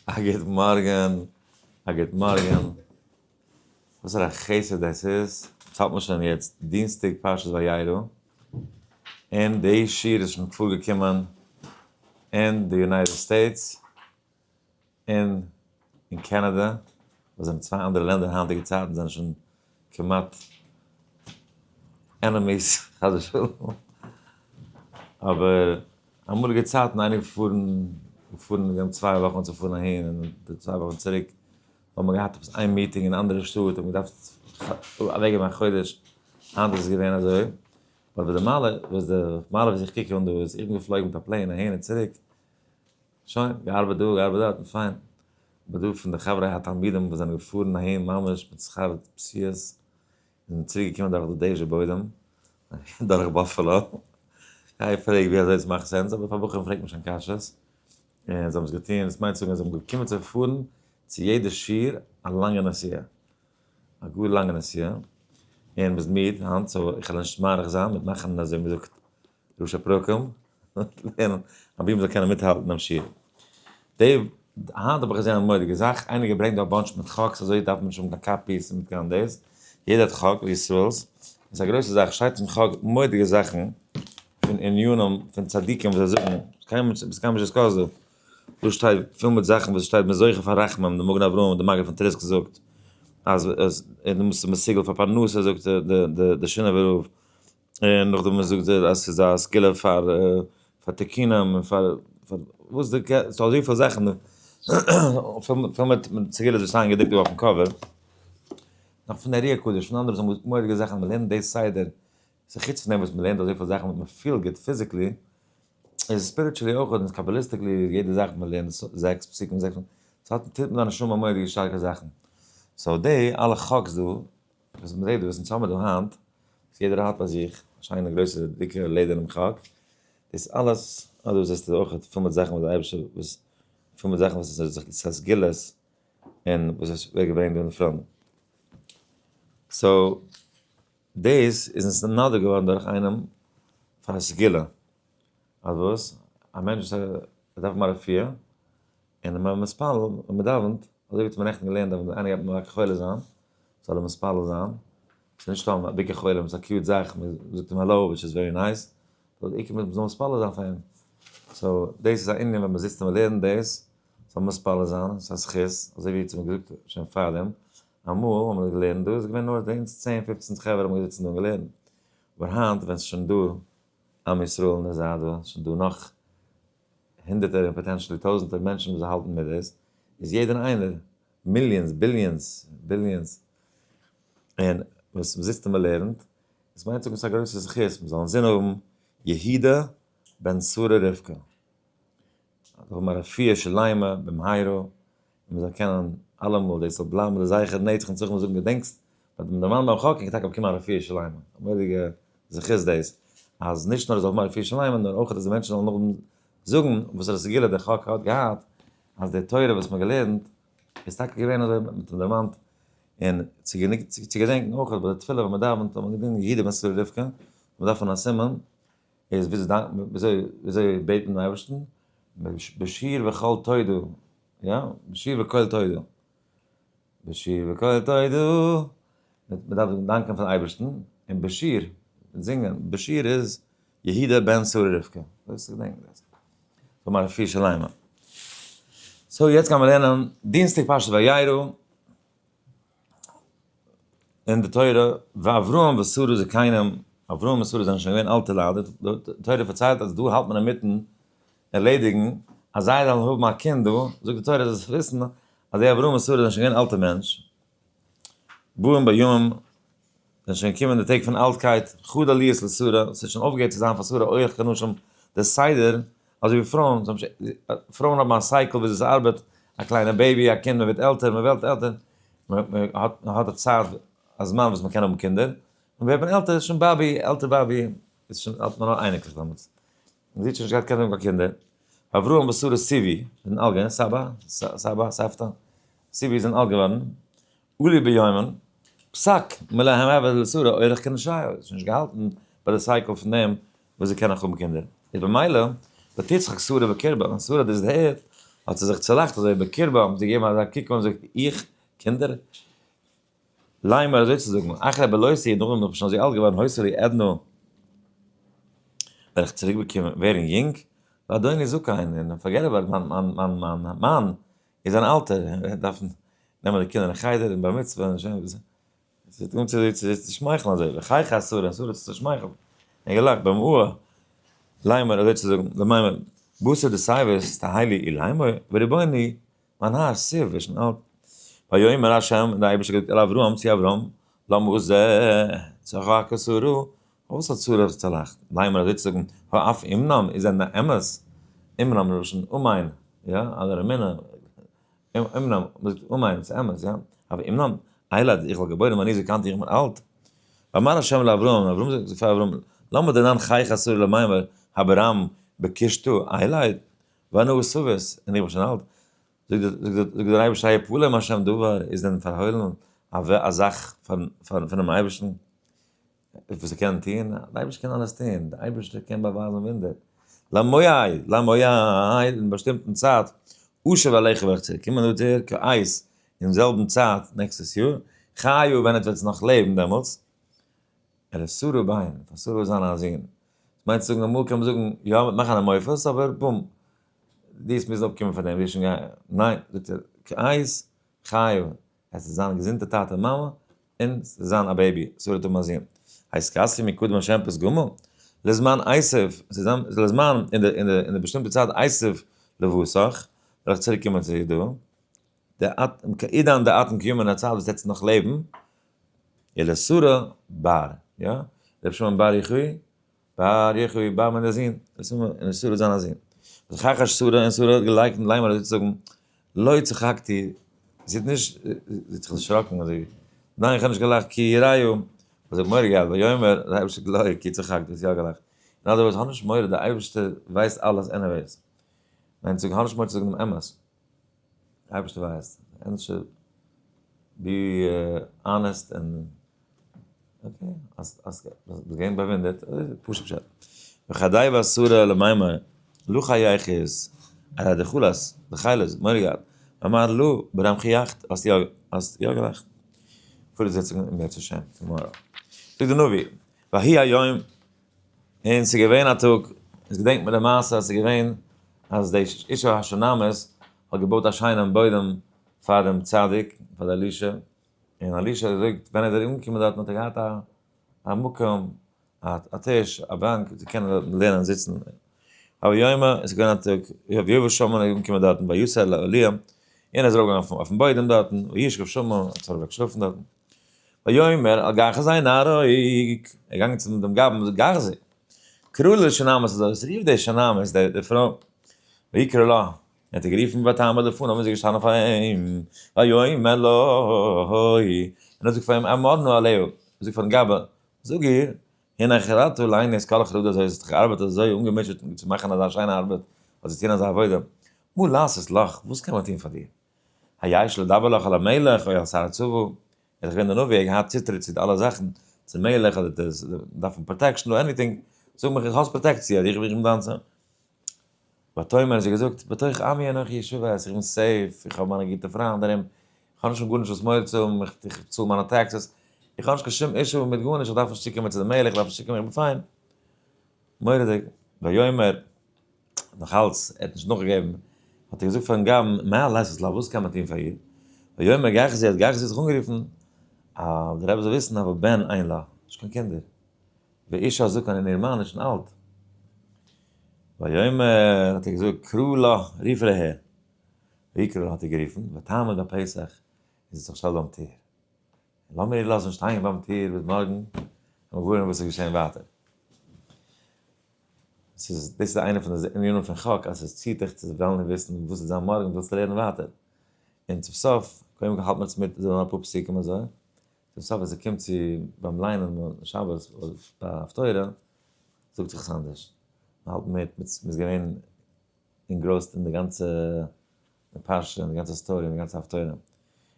א גוט מארגען, א גוט מארגען, וואסערע א חסד דאס איז, עס האלט מען שוין יעצט דינסטאג פרשת וירא, און די שיעור איז שוין פארגעקומען אין די יונייטעד סטעיטס, און אין קענעדע, וואס זענען צוויי אנדערע לענדער היינטיגע צייטן זענען שוין. כמעט ענעמיס חס ושלום, אבער אמאליגע צייטן איינער געפארן געפארן גענומען צוויי וואכן צו פארן אהין און די צוויי וואכן צוריק האט מען געהאט עפעס איין מיטינג אין אנדערע שטאט האט מען געדארפט אוועק געבן א חודש היינט איז עס געווען אזוי אבער די מעלה וואס די מעלה וואס איך קוק אן דא איז איך בין געפלויגן מיט א פלעין אהין און צוריק. שוין, געארבעט דא, געארבעט דארט, און פיין. אבער דא פון די חברי התלמידים וואס זענען געפארן אהין ממש מיט שכר פציעות, און זענען צוריק געקומען דורך די דעזשע בוידעם, דורך באפעלא. גיי פרעג ווי אזוי עס מאכט סענס, אבער פאר בחורים פרעגט מען שוין קשיות. און זיי האבן עס געטון, דאס מיינט צו זאגן אז זיי האבן געקומען צו פארן צו יעדע שיעור א לאנגע נסיעה. א גאר לאנגע נסיעה. און מ'איז מיד היינט, סאו איך וועל נישט מאריך זיין מיט מאכן אזוי מ'זאגט ראש הפרקים, מ'וועט לערנען א בימה זאל קענען מיטהאלטן דעם שיעור. די, היינט האב איך געזען א מורא'דיגע זאך, איינער האט געברענגט דא א באנטש מיט חק'ס אזוי דארף מען נישט האבן קיין קאפיס און קיין דאס, יעדער האט חק ווי ישראל'ס, איז א גרויסע זאך, שטייט אין חק מורא'דיגע זאכן פון ענינים פון צדיקים וואס זיי זאגן, קיינמאל נישט עפעס קיינמאל נישט געזאגט דא, דא שטייט פיל מיט זאכן וואס שטייט מען איז זוכה פאר רחמים, די מגן אברהם, די מגיד פון טריסק זאגט אז עס, און דו מוזט זיך מסוגל פאר פרנסה זאגט די די די שינאווער רב. און נאכדעם ווען זאגט ער אז ס'איז א סגולה פאר פאר תיקונים און פאר פאר וואס די קע- ס'איז דא אזויפיל זאכן פול מיט פול מיט מיט סגולות וואס שטייען געדרוקט דא אויפן קאווער נאך פון ארי הקדוש פון אנדערע זאגן מורא'דיגע זאכן מען לערנט די סדר ס'איז חוץ פון דעם וואס מען לערנט אזויפיל זאכן וואס מען פילט גוט פיזיקלי איז ספיריטשעלי אויך און קאבאליסטיקלי יעדע זאך וואס מען לערנט ס- זעקס פסוקים זעקס ס'האט טוט מיט דיין נשמה מורא'דיגע שטארקע זאכן סאו די אלע חק'ס דא וואס מ'זעט דא, וואס אונז האמער דא היינט, וואס יעדער האט ביי זיך, א שיינע גרויסע דיקע לעדערנעם חק, דאס אלעס, אט דא זעסטו אויך פול מיט זאכן וואס די אייבישטער וואס, פול מיט זאכן וואס עס האט זיך גע'גלות, און וואס עס ווערט געברענגט דא אין פראנט. סאו, דאס איז אונז נודע געווארן דורך איינעם פאר א סגולה. אז וואס? א מענטש וואס דארף א רפואה, און ווען מען מתפלל ווען מען דאווענט, אזוי ווי האט מען נעכטן געלערנט דארף מען איינער גייט מכה חולה זיין, זאל ער מתפלל זיין, ס'איז נישט סתם א ביקור חולים, ס'איז א קיוט זאך, מען זאגט אים האלאו וויטש איז ווערי נייס, אבער די עיקר מען זאל מתפלל זיין פאר אים, סאו דאס איז א ענין ווען מען זיצט און מען לערנט דאס, זאל מען מתפלל זיין, ס'איז א זכות, אזוי ווי האט מען געזאגט שוין פארדעם, אמאל האבן מיר געלערנט דא איז געווען נאר אונז צען פופצן חברה האבן געזיצן דא און געלערנט, אבער היינט ווען ס'איז שוין דא עם ישראל און עס זייט דא שוין דא נאך הונדערטער און פאטענשעלי טויזענטער מענטשן וואס זיי האלטן מיט דאס, איז יעדער איינער, מיליאנס, ביליאנס, ביליאנס, און וואס מ'זיצט און מ'לערנט, דאס מיינט צו געבן אזא גרויסע זכות, מ'זאל אינזין האבן יהודה בן שרה רבקה, האבן א רפואה שלימה במהרה, און מיר זאלן קענען אלעמאל דאס זאל בלייבן לזכר בני צח און צח מיר זאגן געדענקסט ביי דעם דערמאנט ביים חק איז טאקע באקומען א רפואה שלימה, א מורא'דיגע זכות דאס, אז נישט נאר ער זאל האבן א רפואה שלימה נאר אויך אז די מענטשן זאלן נאכדעם זאגן וואס ר סגולה דער חק האט געהאט, אז די תורה וואס מ'האט געלערנט איז טאקע געווען אזוי מיט דעם דערמאנט, און צו גענוג צו געדענקן אויך אז ביי די תפילה ווען מ'דאווענט זאל מען געדענקען יהודה בן סרור רבקה, מ'דארף האבן א סימן, איז וויאזוי דאנקן, וויאזוי וויאזוי בעטן דעם אייבערשטן, בשיר וקול תודו, יא, בשיר וקול תודו, בשיר וקול תודו, מען דארף דאנקען פארן אייבערשטן, און בשיר, מיט זינגען, בשיר איז יהודה בן שרה רבקה, דאס איז געדענק איך, פון מיינע פיר שליימען. סאו יעצט גיימער לערנען דינסטאג פרשת וירא. אין די תורה ואברהם ושרה זקנים אברהם און שרה זענען שוין געווען אלטע ליידער די תורה פארציילט אז דא האלט מען אינמיטן ערלעדיגן אז זיי זאלן האבן א קינד דא זאגט די תורה זאלסט וויסן אז די אברהם און שרה זענען שוין געווען אלטע מענטש בוים בימים זענען שוין געקומען די טעג פון אלטקייט, חד עליות לשרה, ס'האט שוין אויפגעהערט צו זיין פאר שרה אויך קיין נשים דער סדר, אזוי ווי פרויען, זיי האבן שוין, פרויען האבן א סייקל וויאזוי עס ארבעט, א קליינע בעיבי, א קינד, מען ווערט עלטער, מען וועלט עלטער, מען האט א צייט, א זמן וואס מען קען האבן קינדער, און ווערט מען עלטער, שוין באבי, עלטער באבי, איז שוין, האט מען נאר אייניקלעך דעמאלטס, מען זוכט שוין נישט קיין קענען קיין קינדער, אברהם ושרה סיבי, זענען אלט געווען, סבא, סבא, סבתא, סיבי זענען אלט געווארן, אולי ביומען, פסק מלא המעבר איז לסורא אורח כנ ש, עס איז נישט געהאלטן ביי די סייקל פון דעם וואס זיי קענען נאך האבן קינדער, איז במילא ותצחק שרה בקרבה, ווען שרה האט דאס דערהערט האט זי זיך צולאכט אזוי בקרבה, האבן זיי געגעבן אזא קוק אן זאגט איך? קינדער? ליימער אזוי צו זאגן, אחרי בלותי נאכדעם וואס איך בין שוין אזוי אלט געווארן הוסר לי עדנו וועל איך צוריק ווערן יונג, ואדוני זקן און פארגעט אבאוט מיין מאן איז אן אלטער און ער דארף נעמען די קינדער אין חדר און בר מצוה און שוין ביז עס וועט אן צו זיצן צו שמייכלן אזוי וחיי חסר אסור עס צו שמייכלן און געלאכט ביים אוה ליימער אזוי צו זאגן די מיימער וואס איז די סיי ווערסט א היילי אי ליימער וריבוני מיין האר סיר ווער שוין אלט ויאמר השם און די אייבערשטער געזאגט אל אברהם צו אברהם למה זה צחק אסור אויף וואס האט שרה זיך צולאכט? מיימער אזוי צו זאגן הא אף אמנם איז ענדע אמת, אמנם מלשון אמיין, יא, אדער אמונה, אמנם מלשון אמיין, ס'איז אמת, יא, אף אמנם, אייל אז איך וועל געבוירן ווען איר זענט היינט יונג און אלט. ואמר השם לאברהם, אברהם זאגט פאר אברהם, למה דנן חייך שרה למיימער הברם בקשתו, אייל איז, ואנא וסובס, און איך בין שוין אלט, זאגט דער אייבערשטער היפול להם השם דבר, איז דען פארהוילן א זאך פונעם אייבערשטן? אויף וואס ער קען טון, דער אייבערשטער קען אלעס טון, דער אייבערשטער קען באווייזן וואונדער, למאי, למאי, אין באשטימטן צייט, אשוב אליך וועל איך צוריק קומען דא צו דיר, כעת, אין זעלבן צייט נעקסטעס יאר, חיו ווען עטץ וועטס נאך לעבן דעמאלטס, ער איז שרה ביין, פאר שרה איז זיין א זון, מיינט צו זאגן אמאל קען מען זאגן יא מען וועט מאכן א מופת אבער בום, די וועסט מוזן אפקומען פאר דעם, די וועסט שוין גיין, ניין, זאגט ער, כעת, חיו, עס איז זיין געזונטע טאטע מאמע און עס איז זיין א בעיבי סאו ער וועט האבן א זון הייסט קאסי מקודם השם פרס גומל לזמן עשיו ס'זאם לזמן אין די אין די באשטימטע צייט עשיו לבסך וועל איך צוריק קומען צו איר דא די אט עידן די אטן קיומען א צייט וואס עטס נאך לעבן אלע סארא באר יא ר' שמעון באר יחי באר יחוי באר מיט די זין, דאס איז מיר און שרה האט זיין א זין. וככה שרה און שרה האט געלייקנט די ליימער אזוי צו זאגן, לא צחקתי, זי האט נישט, זי האט זיך דערשראקן אזוי, ניין איך האב נישט געלאכט כי יראיו, האט זיך מורא געהאט ויאמר דער אייבערשטער לא כי צחקתי האסט יא געלאכט, אין אנדערע ווארט האב נישט מורא דער אייבערשטער ווייסט אלעס עניוועיס, מיינט זאג האב נישט מורא צו זאגן דעם אמת. אייבערשטער ווייסט, ענדערש בי אנעסט און אקעי, אז אז ביסט געווען באוואונדערט, פשוט פשט. וכדי ואסור למימר, לו חייך איז א ר' דחולא'ס, דחילא'ס, מוהרא י האט, אמר לו, ברם חייכת, האסט יא, האסט יא געלאכט. פארט די זיצונג אין בעצם שיין, צום מוהרא י. זאגט די נביא, ויהי היום. און ס'איז געווען א טאג, איז געדענקט מיר די מעשה אז ס'איז געווען אז די איש האשונמות האט געבויט א שיינעם בוידעם פאר דעם צדיק, פאר די אלישע, און אלישע האט געזאגט ווען איז ער אנגעקומען דארטן האט ער געהאט א מקום, א טיש, א באנק צו קענען דארטן לערנען זיצן. הוה יומא, עס איז געווען א טאג, הוה יבא שמו איז אנגעקומען דארטן ביי יאסעלע אלי', און ער איז ארויפגעגאנגען אויפן בוידעם דארטן, וישכב שמה, האט ער אוועק געשלאפן דארטן. ויאמר אל גחזי און נהרוג, ער איז געגאנגען צום דעם גבאי און געזאגט גחזי, קרא לה שונמת הזאת, רוף די שונמת, די פרוי, ויקרא לה, און האט איר גערופן ותעמד לפניו און זי איז געשטאנען פאר אים, ויאמר לה, און האט געזאגט פאר אים, אמר נא אליהו, זאג פארן גבאי, זאג איר, הנה חרתו לעיני כל החרדה הזאת, זי האט זיך געארבעט אזוי אנגעמוטשעט צו מאכן אזא שיינע ארבעט, האט זי געטון אזא עבודה, מה לעשות לך, וואס קען מען טון פאר דיר? היי שלא דבר לך אל המלך אוי אל שר צבא, ער איז דאך געווען די נביא, ער האט געהאט צוטריט צו די אלע זאכן, צום מלך אדער די דארפן פראטעקשן אדער עניטינג, זאג מיך איך האסט פראטעקציע אדער איך בין דיינס. ותאמר האט זי געזאגט בתוך עמי אנכי ישובת, איך בין סעיף, איך האב מיינע גוטע פריינד ארום, איך האב נישט פון גארנישט וואס מורא צו האבן, איך צאל מיינע טעקסעס, איך האב נישט קיין שום אישו מיט גארנישט, איך דארף נישט צוקומען צו די מלך, איך דארף נישט צוקומען, איך בין פיין. מורא'דיג. ויאמר. נאך אלץ ער האט נישט נאכגעגעבן, האט ער געזאגט פארן גמ' מה לעשות לה וואס קען מען טון פאר איר, ויאמר גחזי האט גחזי זיך אנגערופן, אה, דער רבי זאל וויסן אבער בן אין לה, נישט קיין קינדער, ואישה זקן און איר מאן איז שוין אלט, ויאמר האט ער געזאגט קרא לה, רוף איר אהער, ויקרא לה האט ער גערופן, ותעמוד ביי פסח, און זי האט זיך געשטעלט ביים טיר, לאמיר איר לאזן שטיין ביים טיר ביז מארגן, און מיר ווארעמען וואס איז געשען ווייטער. ס'איז, דאס איז איינע פון די ענינים פון חק אז עס ציעט דיך צו וועלן און וויסן וואס וועט זיין מארגן, ווילסט לערנען ווייטער. און צום סוף, קודם כל האלט מען עס מיט זיי זאלן אפאר פסוקים אזוי, צום סוף ווען ס'קומט צו ביים ליינען שבת ביי הפטורה זאגט זיך עס אנדערש, מ'האלט מיט, מ'איז געווען אינגרויסט אין די גאנצע פרשה, אין די גאנצע סטארי, אין די גאנצע הפטורה.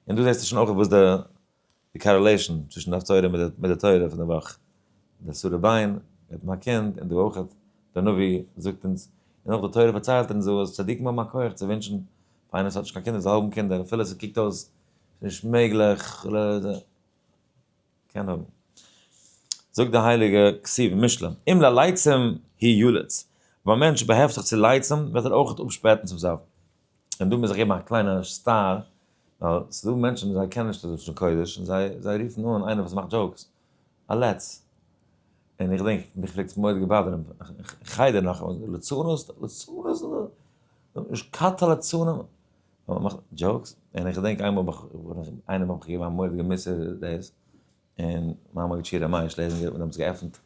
און דא זעסטו שוין אויך וואס די די קארעלעישן צווישן דף תורה מיט די תורה פון די וואך, די סורי ביין מיטן א קינד און די וואך האט די נביא זאגט אונז און אויך די תורה פארציילט אונז אז צדיקים האבן א כח צו ווינטשן פאר איינער וואס האט נישט קיין קינדער זאל האבן קינדער אפילו עס קוקט אויס נישט מעגליך קען האבן. זאגט די הייליגע כסיב משלי אם ללייצים היא יולדת, ווען א מענטש באהעפט זיך צו לייצים וועט ער אויך אפשפעטן צום סוף. און דא מוז איך געבן א קליינע סטאר, ווייל ס'איז דא מענטשן זיי קענען נישט לשון קודש, און זיי זיי רופן אן איינער וואס מאכט דזשאוקס, א לץ. און איך דענק, מיך פלעגט עס מאוד געבאדערן, חדר נאך, לצנות? לצנות? נישט קאטע לצנים? און מ'מאכט דזשאוקס, און איך געדענק איינמאל האב איך, איינעם האב איך געגעבן א מורא'דיגע מוסר דאס, און מיין מגיד שיעור המים שלעזינגער האט דעמאלטס געעפנט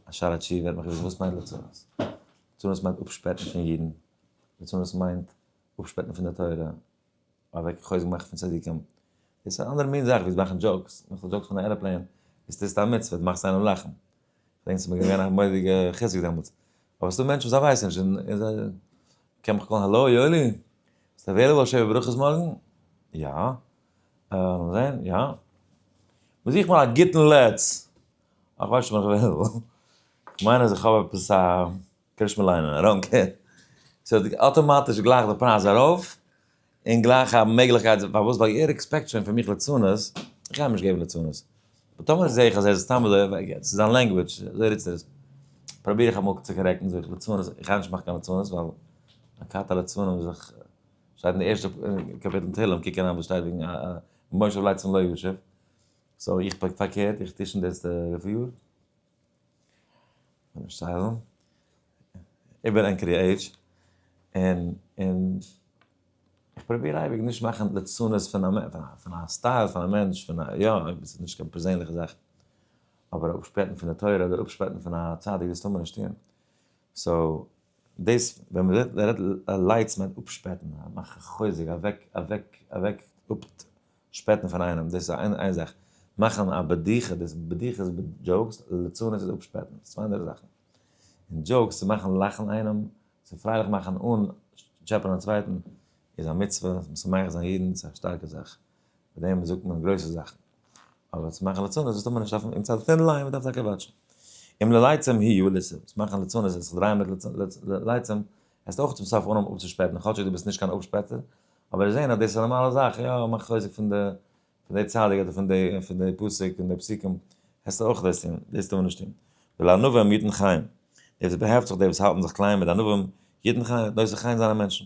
א שער התשובה, ער האט מיך געפרעגט וואס מיינט לצנות? לצנות מיינט אפשפעטן פון אידן. ליצנות מיינט אפשפעטן פון די תורה, אוועק חוזק מאכן פון צדיקים, דאס איז א אנדערע מין זאך ווי צו מאכן דזשאוקס, מאכסט א דזשאוק פון א עראפלעין, דאס טוסטו א מצוה, דו מאכסט איינעם לאכן, כ'דענק ס'איז מיר געווען א מורא'דיגע חיזוק דעמאלטס, אבער ס'דא מענטשן וואס זיי ווייסן נישט און און זיי, קען מיך קאלן האלא יואלי? ביסט עוועילעבל שבע ברכות מארגן? יא. לאמיר זעהן, יא. מ'זוכט נאר א גוטן לץ. איך ווייס נישט צו איך בין עוועילעבל. כ'מיין אז איך האב עפעס א. כ'קען נישט מער ליינען, איי דאנט קעיר. ס'העט אטאמאטיש גלייך די פרייז ארויף, און גלייך א מעגליכקייט, פארוואס? ווייל יעדער עקספעקט שוין פון מיך ליצנות, כ'גיי אים נישט געבן ליצנות. אבער טאמער זע איך אז ער איז סתם אזוי, ווייל ס'איז זיין לענגוויטש, אזוי רודפ'ט ער עס, פראביר איך אמאל צו קארעקטן, זאג איך, ליצנות, איך גיי נישט מאכן קיין ליצנות, ווייל הכת הליצנים איז דאך, שטייט אין די ערשטע קאפיטל אין תהלים, קוק אריין וואס שטייט וועגן מושב ליצן לא ישוב. סאו איך פארקערט, איך טוה שוין דאס די וויפיל יאר. סיילענט איבער ענקערי עידזש און און איך פרוביר אייביג נישט מאכן לצנות פון פון א סטייל פון א מענטש פון א יא אויב עס איז נישט קיין פערזענליכע זאך אבער אפשפעטן פון די תורה אדער אפשפעטן פון א צדיק דאס טאר מען נישט טון סאו דאס ווען מען רעדט לייטס מיינט אפשפעטן מאכן חוזק אוועק אוועק אוועק שפעטן פון איינעם דאס איז איין זאך, מאכן א בדיחה דאס בדיחה איז דזשאוקס, ליצנות איז אפשפעטן, דאס איז צוויי אנדערע זאכן. און דזשאוקס צו מאכן לאכן איינעם, צו פרייליך מאכן אן טשעפען א צווייטן איז א מצוה, משמח זיין יעדן איז א שטארקע זאך, מיט דעם זאגט מען גרויסע זאכן. אבער צו מאכן ליצנות דאס טאר מען נישט אויפן אין צד פון לייען, מען דארף טאקע וואטשן. אם לליצים הי' ליצים, צו מאכן ליצנות און זיך דרייען מיט ליצים, עסט אויך צום סוף אן אים אפצושפעטן, כאטשיג דו ביסט נישט קיין אפשפעטער, אבער זעהן אז דאס איז א נארמאלע זאך, יא מאך חוזק פון די פון די צדיק אדער פון די פון די פסוק פון די פסוקים, העסטו אויך דאס טון, דאס טאר מען נישט טון. ולענווים יתן חיים, דאס איז באהעפט זיך די וואס האלטן זיך קליין מיט די ענווים, יתן חיים וועט נושא חיים זיין א מענטשן.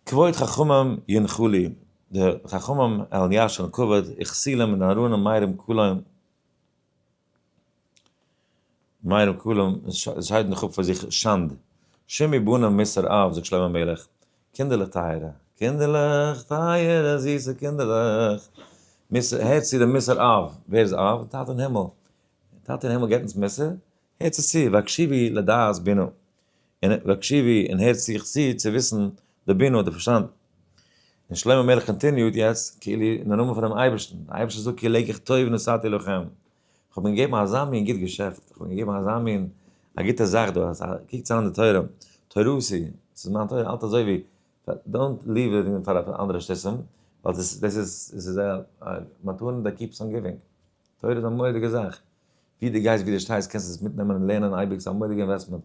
כבוד חכמים ינחו לי, די חכמים העלן ישרן כבוד, איך סיל אים און ארונים מאירים כלאים. מייל כלום, שייד מיך אפ פאר זיך, שאנד! שמי בנים מסור אב, זאגט שלמה המלך, קינדערלעך טייערע, קינדערלעך טייערע, זיסע קינדערלעך, מסור, הערטס צו דעם מסור אב, ווער איז אב? טאטע אין הימל, טאטע אין הימל געבט אונז מוסר, הערטס עס צו, והקשיבי לדעת בנו. און הקשיבי און הערט זיך צו צו וויסן די בינה די פארשטאנד. און שלמה המלך קאנטיניוט יעצט כאילו אין די נאמען פונעם אייבערשטן, די אייבערשטער זאגט כי אלהיך טוב נשאתי לכם, כ'האב אים געגעבן אזא מין גוט געשעפט, כ'האב אים געגעבן אזא מין א גוטע זאך דא, אז קוק צו אן די תורה, תורתי, ס'איז מיין תורה, האלט אזוי ווי, דאנט ליוו איט אין פאר אנדערע שטותים, ווייל דאס איז א מתנה דעט קיפס אן גיווינג, תורה איז א מורא'דיגע זאך, ווי דו גייסט ווי דו שטייסט קענסטו עס מיטנעמען און לערנען אייביג ס'איז א מורא'דיגע אינוועסטמענט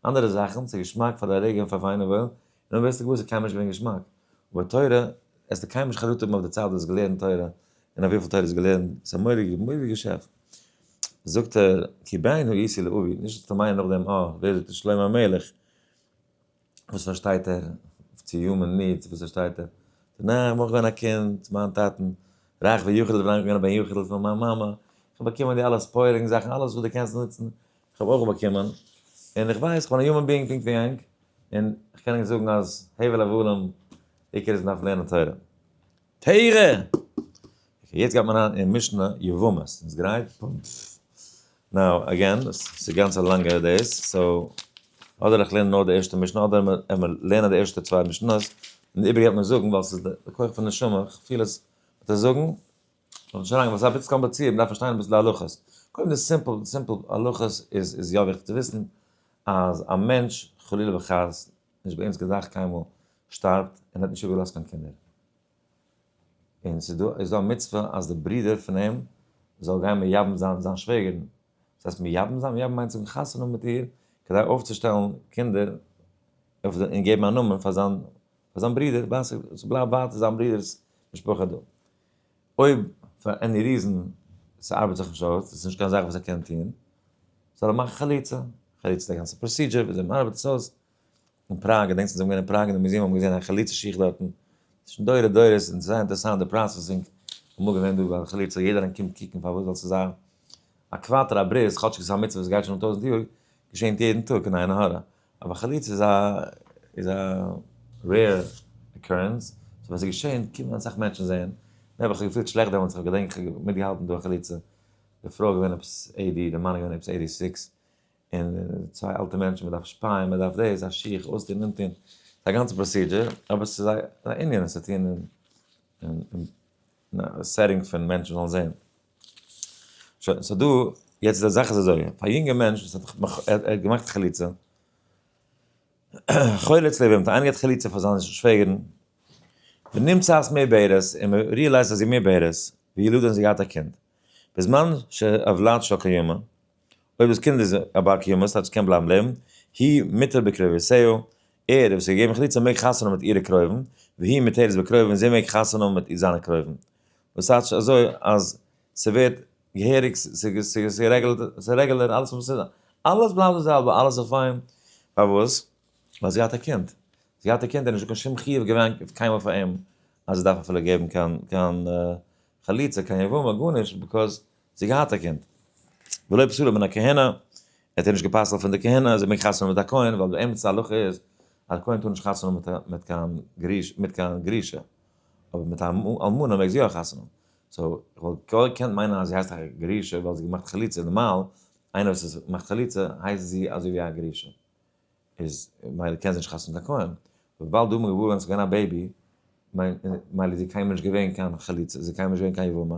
אנדערע זאכן ס'איז געשמאק פאר די רגע און פאר וויין און וואויל און אויב ווערסטו געוואר ס'איז קיינמאל נישט געווען געשמאק אבער תורה העסטו קיינמאל נישט חרטה האבן אויף די צייט וואס האסט געלערנט תורה און אויף וויפיל תורה האסט געלערנט ס'איז א מורא'דיגע מורא'דיגע געשעפט זאגט ער כי בעינו איסי לאווי נישט צו מיינען נאכדעם אה ווער זאגט עס שלמה המלך. וואס פארשטייט ער צו יומען נידס, וואס פארשטייט ער צו ניין איך מוז געווען א קינד, מיין טאטן, רייך ווי יחיד'ל וויל ענק געווען א בן יחיד'ל פון מיין מאמע, איך האב באקומען די אלע ספוילינג זאכן, אלעס וואס דו קענסט נוצן, איך האב אויך באקומען, און איך ווייס איך בין א יומען ביאינג פונקט ווי ענק, און איך קען ענק זאגן אז הבל הבלים, עיקר איז מען דארף לערנען תורה. תורה! אקעי יעצט גייט מען אריין אין משנה יבמות, ביסט גרייט? נאו אגעין, ס'איז גאנץ א לאנגע דעיס, סאו אדער איך לערן נאר די ערשטע משנה אדער מיר לערנען די ערשטע צוויי משנות און די איבריגע וועט מען זאגן ווייל ס'איז די כח פון נשמה, איך פיל עס וועט עס זאגן, און שוין ווייל ס'איז אביסל קאמפליצירט מ'דארף פארשטיין אביסל די הלכות, קודם די סימפל סימפל הלכות איז איז יא וויכטיג צו וויסן אז א מענטש חלילה וחס נישט ביי אונז געדאכט קיינמאל שטארבט און האט נישט איבער געלאזט קיין קינדער. און ס'איז דא איז דא א מצוה אז די ברודער פון אים זאל גיין מייבם זיין זיין שוועגערין. וואס הייסט מייבם זיין? מייבם מיינט זאגן חתונה מיט איר כדי אויפצושטעלן קינדער אויף די און געבן א נאמען פאר זיין פאר זיין ברודער ווייל ס'בלייבט ווייטער זיין ברודער'ס משפחה דא. אויב פאר עני ריזען ס'ארבעט זיך נישט אויס, ס'איז נישט קיין זאך וואס ער קען טון, זאל ער מאכן חליצה, חליצה איז א גאנצע פראסידזשער וויאזוי מ'ארבעט עס אויס, אין פראג, געדענקסט ווען זיי האבן געווען אין פראג אין די מוזיעם האט מען געזען א חליצה שיך דארטן, שוין דורי דורות און ס'איז זייער אינטערעסאנט די פראסעסינג, אמאל געווען דא ביי די חליצה יעדער איינער קומט קוקן פארוואס זאל ס'זיין א קוואטער א ברית, כאטשיג ס'איז א מצוה וואס גייט שוין אן טויזענט יאר, געשענט יעדן טאג אין עין הרע, אבער חליצה איז א איז א רעיר אקורענס, סאו ווען ס'איז געשען קומען אסאך מענטשן זען, מער האב איך זיך געפילט שלעכט דעמאלטס, כ'האב געדענק כ'האב מיטגעהאלטן דא א חליצה, די פרוי איז געווען עפעס עידי, די מאן איז געווען עפעס עידי סיקס, און צוויי אלטע מענטשן, מ'דארף שפייען, מ'דארף דאס, א שיך, אויסטון, אנטון, ס'איז א גאנצע פראסידזשער, אבער ס'איז א ענין, עס האט צו טון אין א סעטינג פון מענטשן זאלן זען. שוין, סאו דא, יעצט די זאך איז אזוי, פאר א יונגע מענטש וואס האט נאך, ער האט געמאכט חליצה, חולץ לב, מ'האט איינגערעדט חליצה פאר זיינע שוועגערן, ונמצאת מעי בערס, און מ'ריעלייזט אז זי איז מעי בערס, וילוד און זי האט געהאט א קינד, בזמן שהוולד שא קיימא, אויב דאס קינד איז א בר קיומא, ס'הייסט ס'קען בלייבן לעבן, היא מיתר בקרוביתיה, ער וואס איז געגעבן חליצה מעג חתונה מיט אירע קרובים, והיא מיתרת בקרובים, זי מעג חתונה מיט זיינע קרובים. וואס הייסט נישט אזוי אז ס'ווערט געהעריג ס'רעגעלער אלעס וואס ס'איז אלעס בלייבט די זעלבע אלעס איז פיין פארוואס ווייל זי האט א קינד זי האט א קינד נישט קיין שום חיוב געווען קיינמאל פאר אים אז זי דארף אפילו געבן קיין קיין חליצה קיין יבמה גארנישט ביקאז זי געהאט א קינד ולא פסול מן הכהנה ער האט נישט געפסלט פון די כהנה אז ער מעג חתונה מיט א כהן ווייל באמת הלכה איז אז כהן טאר נישט חתונה מיט קיין גרוש מיט קיין גרושה. אבער מיט א אלמנה מעג זי יא חתונה האבן, סאו איך וואלט געקענט מיינען אז זי הייסט א גרושה ווייל זי האט געמאכט חליצה, נארמאל איינער וואס איז מאכט חליצה הייסט זי אזוי ווי א גרושה, איז מילא קען זי נישט חתונה מיט א כהן, וויבאלד דא האט מען געווארענט אז ס'איז געווען א בעיבי, מילא איז זי קיינמאל נישט געווען קיין חליצה, זי איז קיינמאל נישט געווען קיין יבמה,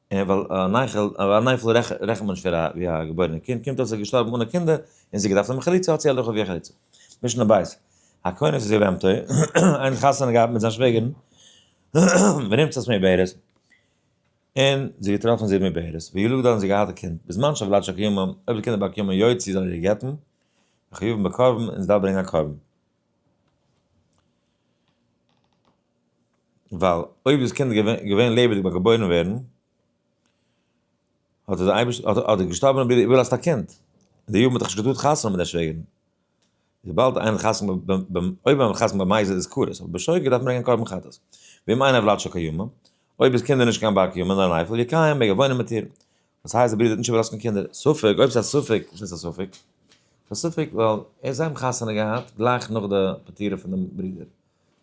און ווייל אן אייכל, אן אייפל רעכנט מען נישט פאר א ווי א געבוירענע קינד, קומט אויס ער איז געשטארבן אנע קינדער, און זי האט געדארפט האבן חליצה, האט זי הלכה ווי א חליצה. משנה ב', הכונס איז געווען פטור, איינער האט חתונה געהאט מיט זיין שוועגערן, ונמצאת מעוברת, און זי האט געטראפן זי איז מעוברת, וילדו און זי האט געהאט א קינד, בזמן שהוולד שקיומה, אויב די קינדער באקומען יו ט זאל ער איר גט'ן, וחיוב בקרבן, און זי דארף ברענגען א קרבן. ווייל אויב איז קינד געווען לעבעדיג ביים געבוירן ווערן, האט דער אייבערשטער, האט דער געשטארבענער ברודער איבערגעלאזט א קינד, און דער יב מ האט דאך נישט געטארט חתונה מיט די שוועגערן, וויבאלד איינער האט חתונה ביים, אויב האט מען חתונה ביים מייזעל איז כרת, אבער ביי שויגער דארף מען ברענגען קרבן חטאת, ואם אין הבלת שוקי יומא, אויב איז קינד איז נישט קיין בר קיומה נאר אן אייפעל, יקיים, מעג ער וואוינען מיט איר, וואס הייסט די ברודער האט נישט איבערלאזט קיין קינדער? ספק, אויב ס'איז א ספק, וואס הייסט א ספק? ס'איז א ספק ווייל ער האט זיין חתונה געהאט גלייך נאך די פטירה פון דעם ברודער,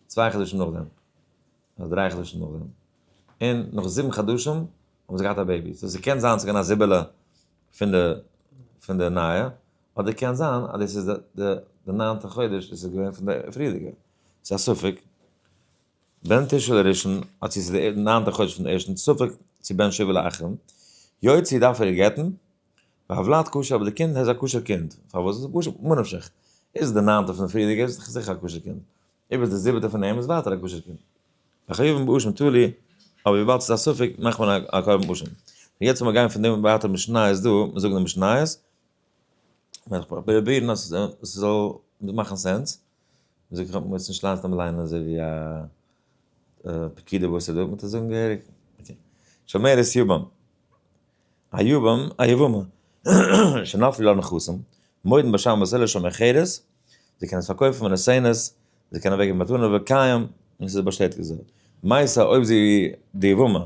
צוויי חדשים נאכדעם, אדער דריי חדשים נאכדעם, און נאך זיבן חדשים האבן זיי געהאט א בעיבי, סאו ס'קען זיין ס'איז געווען א זיבעלע פון די פון די נייע, אדער קען זיין אז דאס איז די די ניינטע חודש, דאס איז געווען פון די פריערדיגע, ס'איז א ספק. בין תשרי לראשון, אט צו ס'איז דער ניינטער חודש פון ערשטן ספק צו בין שבעה לאחרון, יו ט צו דארף ער גט'ן, והבלעת כשר אבער די קינד איז א כשר קינד, פארוואס? ממה נפשך, איז עס דער ניינטער פון די פריערדיגע איז עס זיכער א כשר קינד, איבער דער זיבעטער פון אים איז ווייטער א כשר קינד, וחייבים באשם תלי, אבער וויבאלד ס'איז א ספק מאכט מען א קרבן אשם. נו יעצט מיר גייען פון דעם ווייטער משניות דא, מיר זאגן די משניות, וועל איך פראבירן אז ס'זאל מאכן סענס. זאג איך האב מוזט נישט ליינט נאר מ'ליינט אזוי ווי א פקיד אויב וואס ער דארט מוזט ער זאגן געהעריג אקעי שומרת יבם א יבם א יבמה שנפל לה נכסים מוידן בשם וואס עלער שומר חרס זיי קענען עס פארקויפן און עס ענעס זיי קענען אוועקגעבן מתנה וקיים און עס איז באשטעטיגט געווארן מייסע אויב זי די יבמה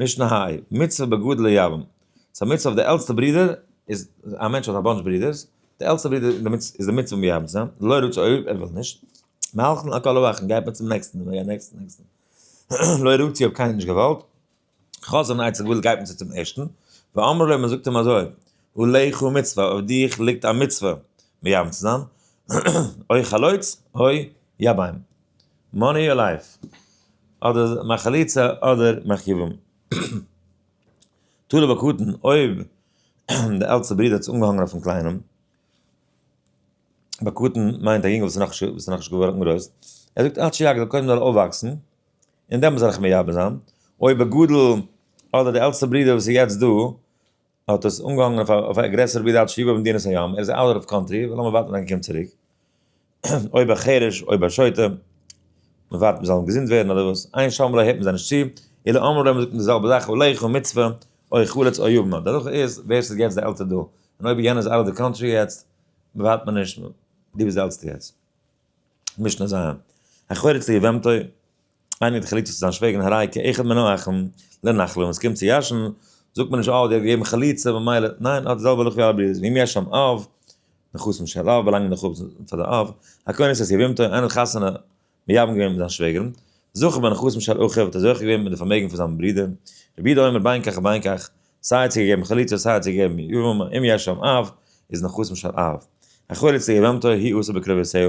משנה היי, מצוה בגודל היוון. ס'א מצוה אויף די עלטסטע ברודער, איז א מענטש האט א באנטש ברודערס, די עלטסטע ברודער איז דערמיט איז די מצוה מייבם צו זיין, לא רוצה אויב ער וויל נישט, מהלכן על כל אורחן גייט מען צום נעקסטן און מ'גייט נעקסטן נעקסטן, לא רוצה אויב קיינער נישט געוואלט, חזון אייך צו געוואלט גייט מען צו צום ערשטן, ואמר לו מ'זאגט אים אזוי, עליך מצוה אויף דיך ליגט א מצוה מייבם צו זיין, אוי חלוץ אוי יבם. מאני אור לייף, אדער מיין חליצה אדער מיין כיוון. תלוי בקטן, אויב די עלטסטע ברודער האט עס אנגעהאנגען אויפן קליינעם, בקטן מיינט א יונגעל וואס איז נאכנישט געווארן גרויס, ער זאגט עד שיגדל זאל קודם אויפוואקסן און דעמאלס וועל איך מייבש זיין, אויב בגדול אדער די עלטסטע ברודער וואס איז יעצט דא האט עס אנגעהאנגען אויף א אויף א גרעסערע בידע אלץ שליבו במדינת הים, ער איז אוט אוו קאנטרי, לאמיר ווארטן עד ער קומט צוריק, אויב א חירש אויב א שוטה, מען ווארט מען זאל אים געזונט ווערן אדער וואס, עיין שם לעיל הערט מען זיי נישט צו, אלא אמרו להם זאגט מען די זעלבע זאך אולי איך האב מצוה אוי איך חלוץ אוי יבמא, די הלכה איז ווער ס'איז יעצט די עלטער דא, און אויב יענער איז אוט אוו די קאנטרי יעצט, ווארט מען נישט, דו ביסט די עלטסטע יעצט. משנה ז, החורץ ליבמתו. איינער האט חליצה צו זיין שווער אין הרי כ אחד מנא אחים לנחלה ווען ס'קומט צו ישן זאגט מען נישט אה די האט געגעבן חליצה ממילא ניין אט די זעלבע הלכה ווי אלע ברירות ואם יש שם אב נכסים של אב באלאנגען די חפצים פאר די אב הכוונה איז אז יבמתו איינער האט חתונה מייבם געווען מיט זיין שוועגערן זכה בנכסים של אחיו האט ער זוכה געווען מיט די פארמעגן פון זיין ברודער רבי יהודה אומר בין כך ובין כך סיי צו געגעבן חליצה סיי צו געגעבן יבמה אם יש שם אב איז נכסים של אב החולצה יבמתו היא עושה בקרבותיה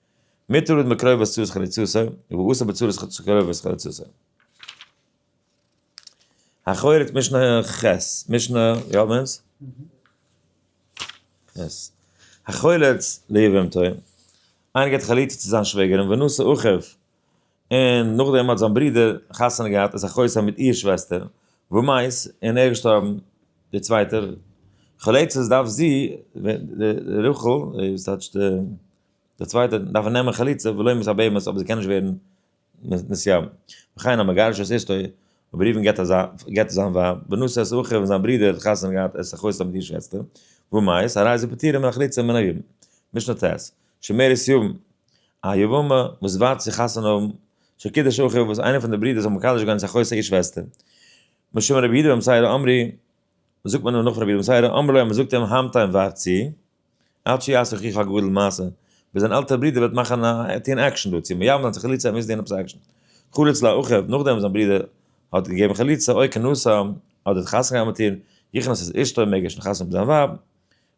מותר איז מקרובת צורת חריצותו, ואסור בצורת קרובת חריצותו. החורץ משנה ח, משנה יומענס? יעס. החורץ ליבם טועים. איינער געט חליצה צו זיין שוועגערין ונשא אחיו, און נאכדעם האט זיין ברודער חתונה געהאט איז החוצה מיט איר שוועסטער, ומאיס און ער איז געשטארבן, דער צווייטער חליצות דארף זי, די רחל, וואס טייטש די. דער צווייטער דארף ער נעמען חליצה ולא ימות הבהמות אבער זי קען נישט ווערן נשיאה. וכן המגרש את אשתו וברבים גט אזא גט זיין ווייב ונושא את אחיו און זיין ברודער האט חתונה געהאט עס אחוץ האבן געשמועסט אים וואו מאי סא ארייז זיי פטורים מן החליצה מן היבום. משנה ט, שמערת יבום, א יבמה וואס ווארט צו חתונה האבן, שקידש אחיו וואס איינער פון די ברודער זאל מקדש גיין צו אחוץ איר שוועסטער. משמע רבי יהודה בן מסעירא אמרי, זאגט מען אים נאך פון רבי יהודה בן מסעירא אמר ליה מ'זאגט אים המתן ווארט צו. עד שיעשה אחיך הגדול מעשה, ביז דיין עלטער ברודער וועט מאכן א, טון עקשן דערצו, מ'ייוו נאר צו חליצה מוז טון עפעס עקשן. חלוץ לאחיו, נאכדעם וואס זיין ברודער האט געגעבן חליצה אוי קען נשא, אדער האט חתונה געהאט מיט איר, יכנס את אשתו, מעג ער שוין חתונה האבן זיין ווייב,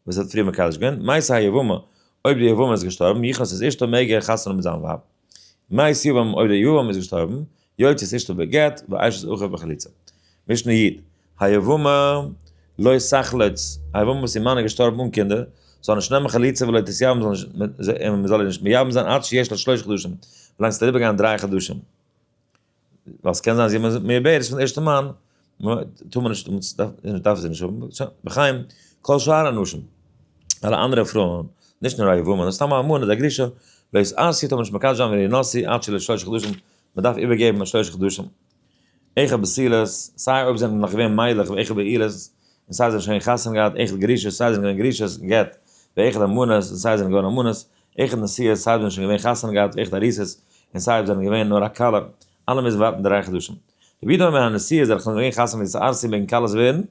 וואס ער האט פריער מקדש געווען, מעשה היבמה, אויב די יבמה איז געשטארבן, יכנס את אשתו מעג ער חתונה האבן מיט זיין ווייב. מייסד יבם אויב דער יבם איז געשטארבן, יוצאת אשתו בגט ואשת אחיו בחליצה. משנה יד, היבמה לא סכלת, א יבמה וואס איר מאן איז געשטארבן אן קינדער, זאל נישט נעמען חליצה ולא תתייבם און מען זאל איר נישט מייבם זיין עד שיש לה שלושה חדשים, ווילאנג ס'וועט אריבערגיין דריי חדשים. ווייל ס'קען זיין אז יענער זאגט מער בערך פון ערשטע מאן, טאר מען נישט, מען דארף זי נישט האבן, שוין, בחיים, כל שאר הנשים, אלע אנדערע פרויען, נישט נאר א יבמות, סתם א מאן איז א גרושה, בעת א סיטער טאר מען נישט מקדש זיין ווען איר נשיא עד שלא שלושה חדשים, מען דארף איבערגעבן א שלושה חדשים, עכפ בעסילות, סיי אויב זענען נאך געווען מיילעך ועכפ בעילות, און סיי זיי האבן שוין חתונה געהאט, עכפ גרושות, סיי זיי זענען געווען גרושות, גט, ועכפ אלמנות, און סיי זיי זענען געווארן אלמנות, איך און די סי' איז סייווי שוין געווען חתונה געהאט איך די אריסעס און סייווי זענען געווען נאר א כלה אלע מוזן ווארטן דריי חדשים רבי דוד מיין הנשיא איז ער חנ געווען חתונה מיט די ארסי מעגן כלות ווערן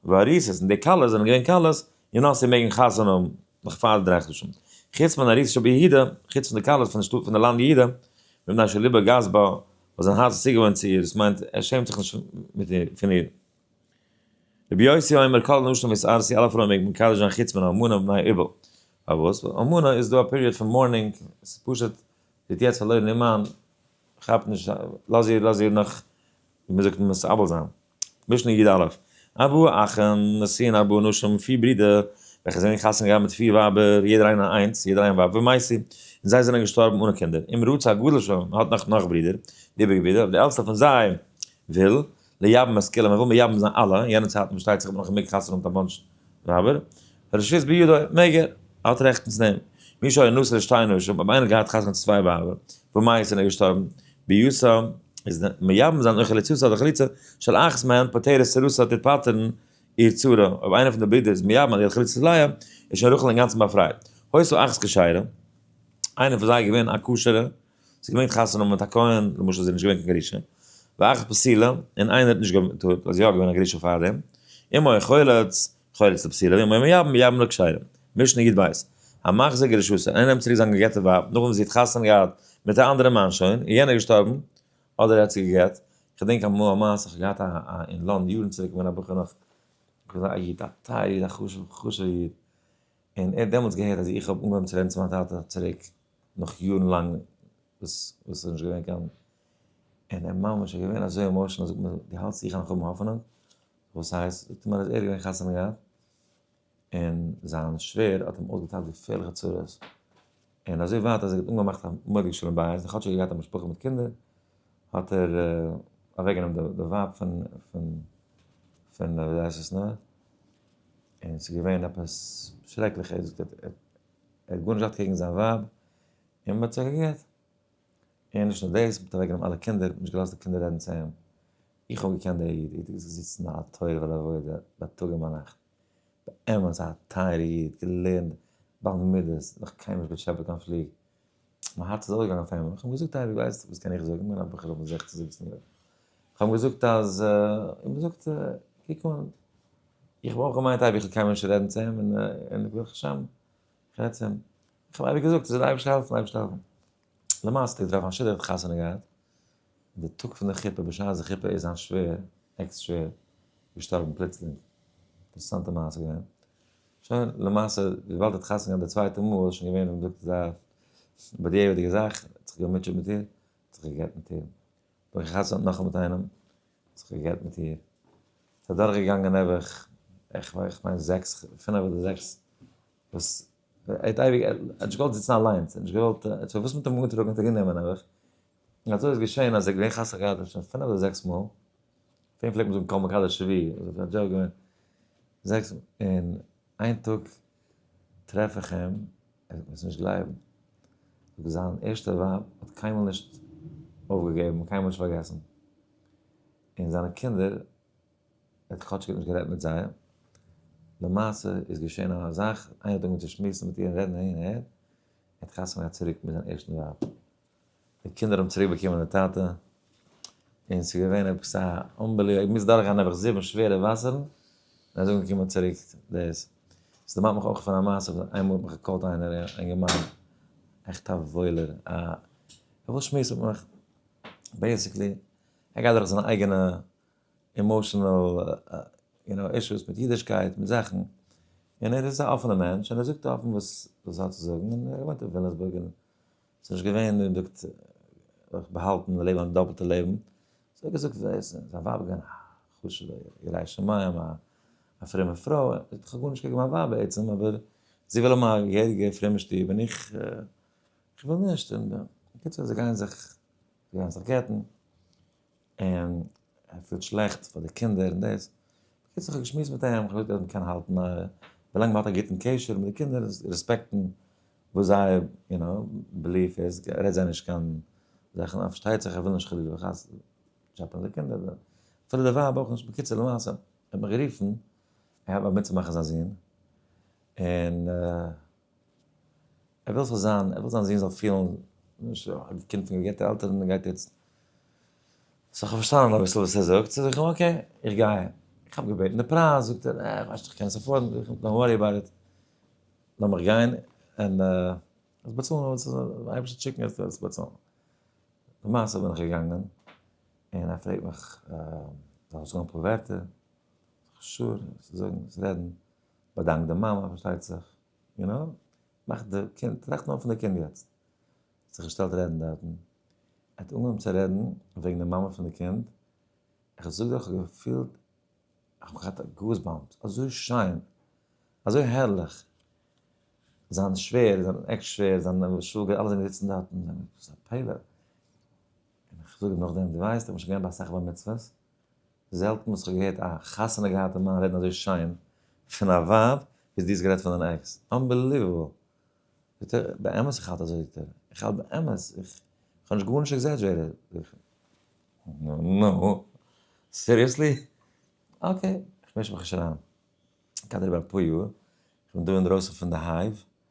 ואריסעס און די כלות זענען געווען כלות און ארסי מעגן חתונה האבן נאך פאר די דריי חדשים חוץ מיין אריסע שבע יהודה חוץ פון די כלות פון די שטאט פון די לאנד יהודה מיט מיין שליבא גאס בה וואס זיין הארץ איז צוגעוואוינט צו איר עס מיינט ער שעמט זיך נישט מיט איר פון איר. רבי יוסי אומר כל הנשים וואס אר סי אלע פרויען מעג מען מקדש זיין חוץ מן האלמנה ומבני איבל. פארוואס? ווייל אלמנה איז דא א פיריעד פון מארנינג, ס'איז פשוט זי האט יעצט פארלוירן איר מאן, כאפ נישט, לאז איר לאז איר נאך ווי מען זאגט מסרבל זיין. משנה י א, ארבעה אחים נשאין ארבעה נשים, פיר ברידער וועלכע זענען חתונה געהאט מיט פיר ווייבער יעדער איינער איינס, יעדער איין ווייב ומעשה, און זיי זענען געשטארבן אנע קינדער, אם רוצה הגדול שלהם, מען האט נאך נאך ברידער, איבעריגע ברידער, אבער די עלטסטע פון זיי וויל, לייבן אז כולם, ער וויל מייבם זיין אלע, אין יענע צייטן פארשטייט זיך האט מען נאך געמעגט חתונה מיט א בנש ק ווייבער, ר' שפיז בידו, מעג ער, ער האט רעכטן צו נעמען. מי שהיה נשא לשתי נשים, אויב איינער האט געהאט חתונה צו צוויי ווייבער, ומאיס און ער איז געשטארבן, ביוסא, איז מייבם זיין און חליצתו אדער חליצה של אחת מהן פוטרת סרוסה טוט פטר'ן איר צרה, אויב איינער פון די ברודער איז מייבם אז ער האט חליצת ליה, איז שוין רחל אינגאנצן באפרייט. הויסו אחת כשרה, איינער פון זיי איז געווען א כשר'ע. ס'איז געווען חתונה מיט א כהן, למשל איז ער נישט געווען קיין גרושה, ואכ פסילה, און איינער האט נישט געטוהט אז יא געווען א גרושה פאר דעם, אם היה חולץ, חולץ לפסילה, ואם היה מייבם, מייבם לכשירים. משנה יב ב, המחזיר גרושתו, איינער נעמט צוריק זיין געגעטע ווייב נאכדעם וואס זי האט חתונה געהאט מיט א אנדערע מאן שוין, און יענער איז געשטארבן, אדער ער האט זי גע'גט, כ'דענק אמאל א מעשה, כ'האב געהאט א א אין לאנד יארן צוריק כ'בין א בחור נאך, כ'בין געווען א איד, א טייערע איד, א חשובע חשובע איד, און ער האט דעמאלטס געהערט אז איך האב אנגעהויבן צו רעדן צו מיין טאטע צוריק נאך יארן לאנג וואס וואס איז נישט געווען קיין און ער ממש איז געווען אזוי עמאושענעל זאגט מיר דו האלטסט איך האב נאך האבן האפענונג וואס הייסט זאגט ער מיר אז ער האט געווען חתונה געהאט און זיין שווער האט אים אויסגעטיילט געפערליכע צרות און אזוי ווייט אז ער האט אנגעמאכט א מורג שלום בית כאטש ער האט געהאט א משפחה מיט קינדער האט ער אוועקגענומען די ווייב פון פון פון ווי הייסט עס נאר און ס'איז געווען עפעס שרעקליך, ער האט געזאגט ער האט ער האט גארנישט געהאט קעגן זיין ווייב, און מ'האט זיך געגעט. און נישט נאר דאס, מ'האט אוועק גענומען אלע קינדער, נישט געלאזט די קינדער רעדן צו אים. איך האב געקענט די איד, איד איז געזיצן א תורה ולעבודה בייטאג און ביינאכט. באמת א טייערע איד, געלערנט בעל מידות, נאך קיינמאל נישט געטשעפעט קיין פליג. מיין הארץ איז אויפגעגאנגען אויף איינמאל, איך האב אים געזאגט אייוועלט ווייסט וואס קען איך זאגן, איך בין א בחור פון זעכצן זיבעצן יאר, איך האב אים געזאגט אז איך האב געזאגט קוק אן, איך האב אויך געמיינט אייוועלט איך וועל קיינמאל נישט רעדן צו אים און ברוך השם איך רעד צו אים, איך האב אייוועלט געזאגט עס זאל די אייבערשטער העלפן, אייבערשטער העלפן, למעשה האט ער געטראפן א שידוך, ער האט חתונה געהאט, אין די טאג פון די חופה בשעת די חופה איז זיין שווער, עקס שווער, געשטארבן פלוצלינג, אינטערעסאנטע מעשה געווען, שוין למעשה וויבאלד ער האט חתונה געהאט די צווייטע מאל איז שוין געווען ווי מ'זאגט אזא בדיעבד'יגע זאך, ער האט זיך געמוטשעט מיט איר, האט זיך גע'גט מיט איר, נאך גע'חתמ'ט נאכאמאל מיט איינעם, האט זיך גע'גט מיט איר, ס'איז אדורך געגאנגען נעבעך איך מיין זעקס, פינעף אדער זעקס, וואס ער האט אייביג, ער האט נישט געוואלט זיצן אליינס, ער האט נישט געוואלט, ער האט זיך פארוואס מ'האט אים אנגעטראגן האט ער גענומען נעבעך, און אזוי איז געשען אז ער איז געווען חתן גדול שוין פינף אדער זעקס מאל, אויף אים פלעגט מען זאגן כל מקדש שביעי, איז אויף א דזשאוק געווען, זעקס מאל, און איין טאג טרעף איך אים, ער וועט מיר עס נישט גלייבן, זאגט זיין ערשטע ווייב האט קיינמאל נישט אויפגעגעבן, קיינמאל נישט פארגעסן, און זיינע קינדער, ער האט כאטשיג נישט גערעדט מיט זיי, למעשה איז געשען א זאך, איינער האט אנגעהויבן צו שמועסן מיט איר און רעדן הין און הער, ער האט חתונה געהאט צוריק מיט זיין ערשטן ווייב. די קינדער האבן צוריק באקומען די טאטע, און עס איז געווען עפעס א אנבעליוו, ער מוז דורכגיין נעבעך זיבן שווערע וואסערן, און אזוי אנגעקומען צוריק דאס. עס דערמאנט מיך אויך פון א מעשה וואס איינמאל האט מיך געקאלט איינער א אינגערמאן, עכט א וואוילער, א וואס שמועסט מיט מיך, בעיסיקלי ער גייט דורך זיינע אייגענע אימאשענעל יו נאו אישוס מיט אידישקייט מיט זאכן, און ער איז א אפענע מענטש, און ער זאגט אפן וואס ער האט צו זאגן, און ער וואוינט אין ווילאמסבורג, און ס'איז נישט געווען און זאגט זיך באהאלטן און לעבן א דאפלטע לעבן. ס'האט איר געזאגט זיי עסן, זיין ווייב איז געווען א חשוב'ע יראת שמים, א פרומע פרוי, זי האט כ'האב גארנישט קעגן מיין ווייב בעצם, אבער זי וויל האבן א געהעריגע פרומע שטוב און איך איך וויל נישט, און בקיצור זיי גייען זיך זיי גייען זיך גט'ן. און ער פילט שלעכט פאר די קינדער און דאס, בקיצור כ'האב געשמועסט מיט אים, כ'האב געזאגט אז מ'קען האלטן א, ווילאנג מ'האט א גוטן קשר מיט די קינדער און רעספעקטן וואס זייער יו נאו בעליף איז, רעד זיי נישט קיין זאכן אז פארשטייט זיך ער וויל נישט חלילה וחס טשעפענען די קינדער, אפילו די ווייב אויך נישט, בקיצור למעשה ער האט מיר גערופן ער האלט ביים אונטערמאכן זיין זון, און. ער וויל ס'זאל זיין, ער וויל זיין זון זאל פילן, א קינד פון געגעבטע עלטערן און גייט יעצט, סאו כ'האב פארשטאנען אביסל וואס ער זאגט, סאו זאג איך אים אקעי, איך גיי, איך האב געבעטן די פרייז, זאגט ער, אה, כ'ווייס נישט צו כ'קען עס עפארדן, זאג איך אים, דאנט ווארי אבאוט איט, לאמיך גיין, און וועסט באצאלן וואס די אייבערשטער וועט שיקן וועסטו באצאלן. למעשה בין איך געגאנגען, און ער פרעגט מיך, זאל איך זאגן אפאר ווערטער? זאג איך, שור, זאגן, רעדן. באדאנק די מאמע פארשטייט זיך, יו נאו, מאך די קינד, טראכט נאר פון די קינד יעצט, האט זיך געשטעלט רעדן דארטן, האט אנגעהויבן צו רעדן וועגן די מאמע פון די קינד, איך זאג דיר איך האב געפילט, איך האב געהאט גאס באמפס, אזוי שיין, אזוי הערליך, זיין שווער, זיין עקס שווער, זיין שוואגער, אלע זענען געזיצן דארטן, וואס איז א פלא, און איך זאג אים נאכדעם, דו ווייסט איך בין שוין געווען ביי אסאך בר מצוות, זעלטן וואס כ'האב געהערט א חתונה געהאטע מאן רעדן אזוי שיין פון א ווייב ווי דו האסט גערעדט פון דיין עקס. אנבעליוועבל! זאגט ער, באמת איך האלט אזוי, זאגט ער, איך האלט באמת, איך האב נישט גארנישט עקזעדזשעיטעד, זאג איך, נו, סיריעסלי? אקעי, איך מיש מיך נישט אריין. כ'גיי דיר איבער אפאר יאר, כ'בין דא אינדרויסן פון די הייוו,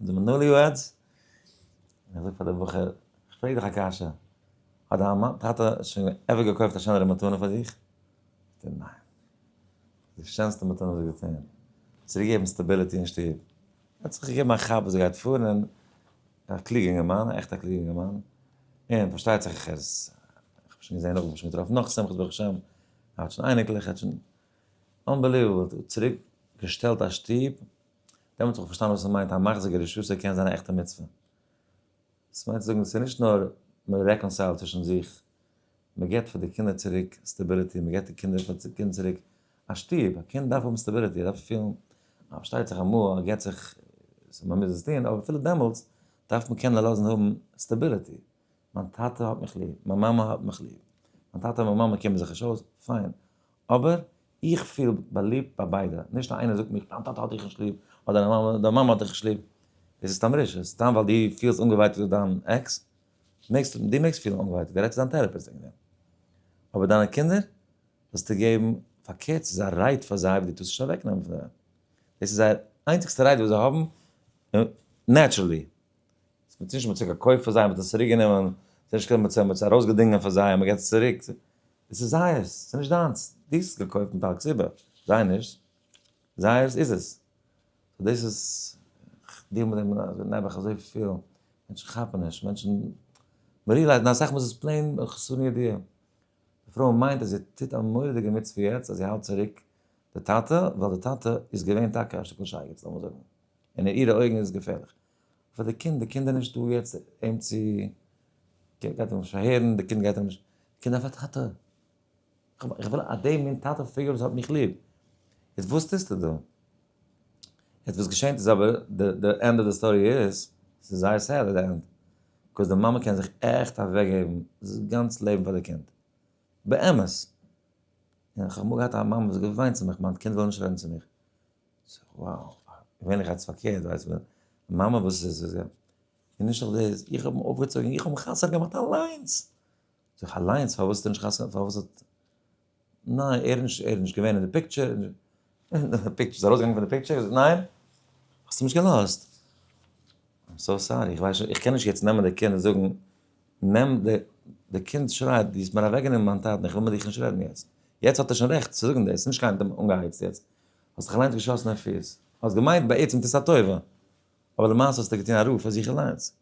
די מנהל יו עדס, ער זאגט פאר די בחור, איך פרעג דיך א קשיא, האט דיין מאמע, טאטע שוין עווער געקויפט א שענערע מתנה פאר דיך? זאגט ער, ניין. די שענסטע מתנה וואס איך געטון, צוריק געבן סטעבילעטי אין שטוב. ער האט זיך געגעבן א כאפ וואס ער גייט פארן און א קלוגע אינגערמאן, א עכטע קלוגע אינגערמאן, און פארשטייט זיך איך איז, איך האב שוין געזען נאך, איך האב שוין געטראפן נאך שמחות ברוך השם, ער האט שוין אייניקלעך, ער האט שוין, אנבעליוועבל, צוריק געשטעלט א שטוב, דעמאלט האב איך פארשטאנען וואס עס מיינט א מחזיק א רשות ער קען זיין א עכטע מצוה. דאס מיינט צו זאגן ס'איז נישט נאר מען רעקאנסיילט צווישן זיך, מען געבט פאר די קינדער צוריק סטעביליטי, מען געבט די קינדער פאר די קינד צוריק א שטוב, א קינד דארף האבן סטעביליטי, ער דארף פילן אז פארשטייט זיך אמאל אז ער געבט זיך סאו מען מוז עס טון, אבער אפילו דעמאלטס דארף מען קענען לאזן האבן סטעביליטי, מיין טאטע האט מיך ליב, מיין מאמע האט מיך ליב, מיין טאטע און מיין מאמע קומען זיך נישט אויס, פיין, אבער איך פיל באליבט ביי ביידע, נישט אז איינער זאגט מיר דיין טאטע האט דיך נישט ליב, אדער דיין מאמע, דיין מאמע האט דיך נישט ליב, דאס איז סתמרישע, סתם ווייל דו פילסט אנגעווייטאגט אויף דיין עקס, מעגסט, דו מעגסט פילן אנגעווייטאגט, גיי רעד צו דיין טעראפיסט וועגן דעם. אבער דיינע קינדער זאלסטו געבן, פארקערט ס'איז א רייט פאר זיי וואס דו טוסט נישט אוועקנעמען פון זיי, דאס איז זייער איינציגסטע רייט וואס זיי האבן נעטשרעלי, מען האט נישט מצליח געקויפט פאר זיי, מען האט עס צוריק גענומען, מען האט נישט געקענט, מען האט עס ארויסגעדינגען פאר זיי, מען געט עס צוריק, עס איז זייערס, עס איז נישט דיינס, דו האסט עס געקויפט מיט אלץ איבער, זיי נישט, זייערס איז עס. דאס איז, איך דיעל מיט דעם נעבעך אזויפיל, מענטשן כאפן נישט, מענטשן, מען ריעלייזט, און אסאך מאל איז עס פלעין חסרון ידיעה. די פרוי מיינט אז זי טוט א מורא'דיגע מצוה יעצט אז זי האלט צוריק די טאטע, ווייל די טאטע איז געווען טאקע א שטיקל שייגעץ, לאמיר זאגן, און אין אירע אויגן איז עס געפערליך. פאר די קינד, די קינד איז נישט דא יעצט אים צו, גייט ער נישט פארהערן, די קינד גייט אים נישט, די קינד דארף א טאטע, איך וויל אז די מין טאטע פריער וואס האט מיך ליב, יעצט וואס טוסטו דא? יעצט וואס געשענט איז אבער, די ענד אוו די סטארי איז, ס'איז זייער סעד אט די ענד, בקאוז די מאמע קען זיך עכט אוועק געבן דאס גאנץ לעבן פאר די קינד, באמת, איך האב אמאל געהאט א מאמע וואס האט געוויינט צו מיך מיין קינד וויל נישט רעדן צו מיך, וואו, ווען איך האלט עס פארקערט ווייסט מען, מאמע וואס איז עס, און נישט נאר דאס, איך האב אים אויפגעצויגן, איך האב אים חתונה געמאכט אליינס, זאג איך, אליינס? פארוואס האסטו נישט חתונה, פארוואס האט, ניין, ער איז נישט געווען אין די פיקטשער, איז ארויסגעגאנגען פון די פיקטשער, ניין? האסט אים נישט געלאזט? איים סאו סארי, איך ווייס נישט, איך קען נישט יעצט נעמען די קינד און זאגן, נעם די, די קינד שרייט, דו האסט מיר אוועקגענומען מיין טאטן, איך וויל מיט דיך נישט רעדן יעצט, יעצט האט ער שוין רעכט צו זאגן דאס, נישט קיין אנגעהייצט יעצט. האסט דיך אליינס געשאסן אין פיס. האסט געמיינט בעצם טוסט א טובה, אבער למעשה האסטו געטון א רעה פאר זיך אליינס.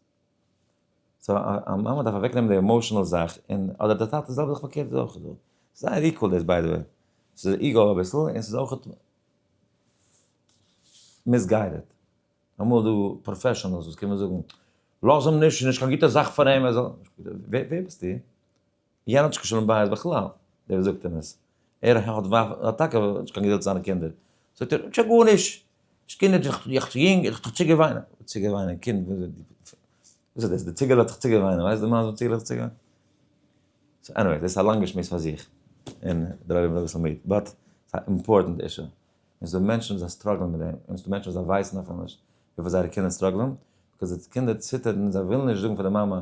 סא א מאמע דארף אוועקנעמען די עמאושענעל זאך, און אדער דער טאטע די זעלבע זאך פארקערט איז אויך דא. זייער איקוועל דאס ביי די וועי. ס'איז איגו אביסל און ס'איז אויך מיסגיידעד. אמאל איז דא פראפעשאנעלס וואס קומען זאגן לאז אים נישט, ס'איז נישט קיין גוטע זאך פאר אים ער זאל. ווער ביסטו? יענער האט נישט קיין שלום בית בכלל, דער וואס זאגט אים עס, ער האט האט טאקע נישט קיין געדולד צו זיינע קינדער, זאגט ער, נישט א גארנישט, נישט קינדער, איך בין דאך יונג, איך האב דאך צוגעוויינען, צוגעוויינען קינד, וואס איז דאס, די ציגעלע האט זיך צוגעוויינען, ווייסט די מאן וואס די ציגעלע האט זיך צוגעוויינען? סאו עניוועי, דאס איז א לאנגע שמועס פאר זיך, און דער עולם ווערט אביסל מיד, באט ס'איז א אימפארטענט אישו, און ס'דא מענטשן וואס זיי סטראגלען מיט דעם, און ס'דא מענטשן וואס זיי ווייסן אפילו נישט וויפיל זייערע קינדער סטראגלען, ביזקאוז די קינדער ציטערן, זיי ווילן נישט זאגן פאר די מאמע.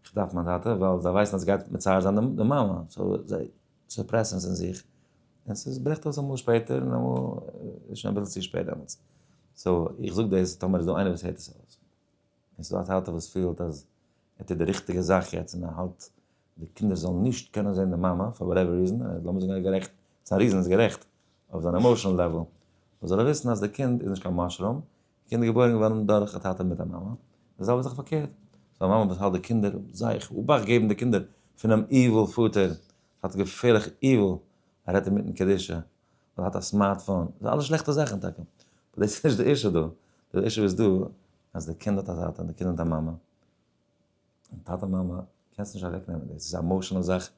איך דארף מיין טאטע ווייל זיי ווייסן אז עס גייט מצער זיין די מאמע, סאו זיי סופרעסן עס אין זיך, און עס ברעכט אויס אמאל שפעטער און אמאל איז שוין אביסל צו שפעט דעמאלטס, סאו איך זאג דאס טאמער איז דא איינער וואס הערט עס אויס און ס'איז דא א טאטע וואס פילט אז ער טוט די ריכטיגע זאך יעצט און ער האלט די קינדער זאלן נישט קענען זען די מאמע פאר וואטעווער ריזען, לאמיר זאגן ער איז גערעכט, ס'איז א ריזען ער איז גערעכט אויף זיין עמאושענעל לעוועל, זאל ער וויסן אז די קינד איז נישט קיין מאשרום, קינדער געבוירן געווארן דורך א טאטע מיט א מאמע, און די זעלבע זאך פארקערט, ס'איז א מאמע וואס האלט די קינדער זייער אבאכט געבן די קינדער פונעם איוויל פאטער, האט געפערליך איוויל, ער רעדט אינמיטן קדושה, אדער האט א סמארט פאון, ס'איז אלעס שלעכטע זאכן טאקע, אבער דאס איז נישט די אישו דא, די אישו איז דא אז די קינד האט א טאטע און די קינד האט א מאמע. און טאטע מאמע קענסט נישט אוועק נעמען דאס איז א מאושענעל זאך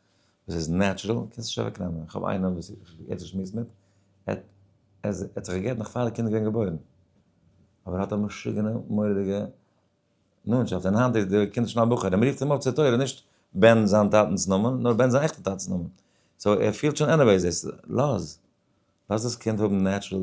וואס איז נעטשרעל קענסט נישט אוועק נעמען איך האב איינעם וואס איך יעצט שמועס מיט ער האט זיך געגעבן נאך פאר די קינד איז געווען געבוירן אבער האט א משוגענע מורא'דיגע נאנטשאפט און היינט איז די קינד שוין א בחור און מ'רופט אים אויף צו תורה נישט בן זיין טאטנ'ס נאמען נאר בן זיין עכטע טאטנ'ס נאמען סאו ער פילט שוין עניוועיס דאס לאז לאז דאס קינד האבן נעטשרעל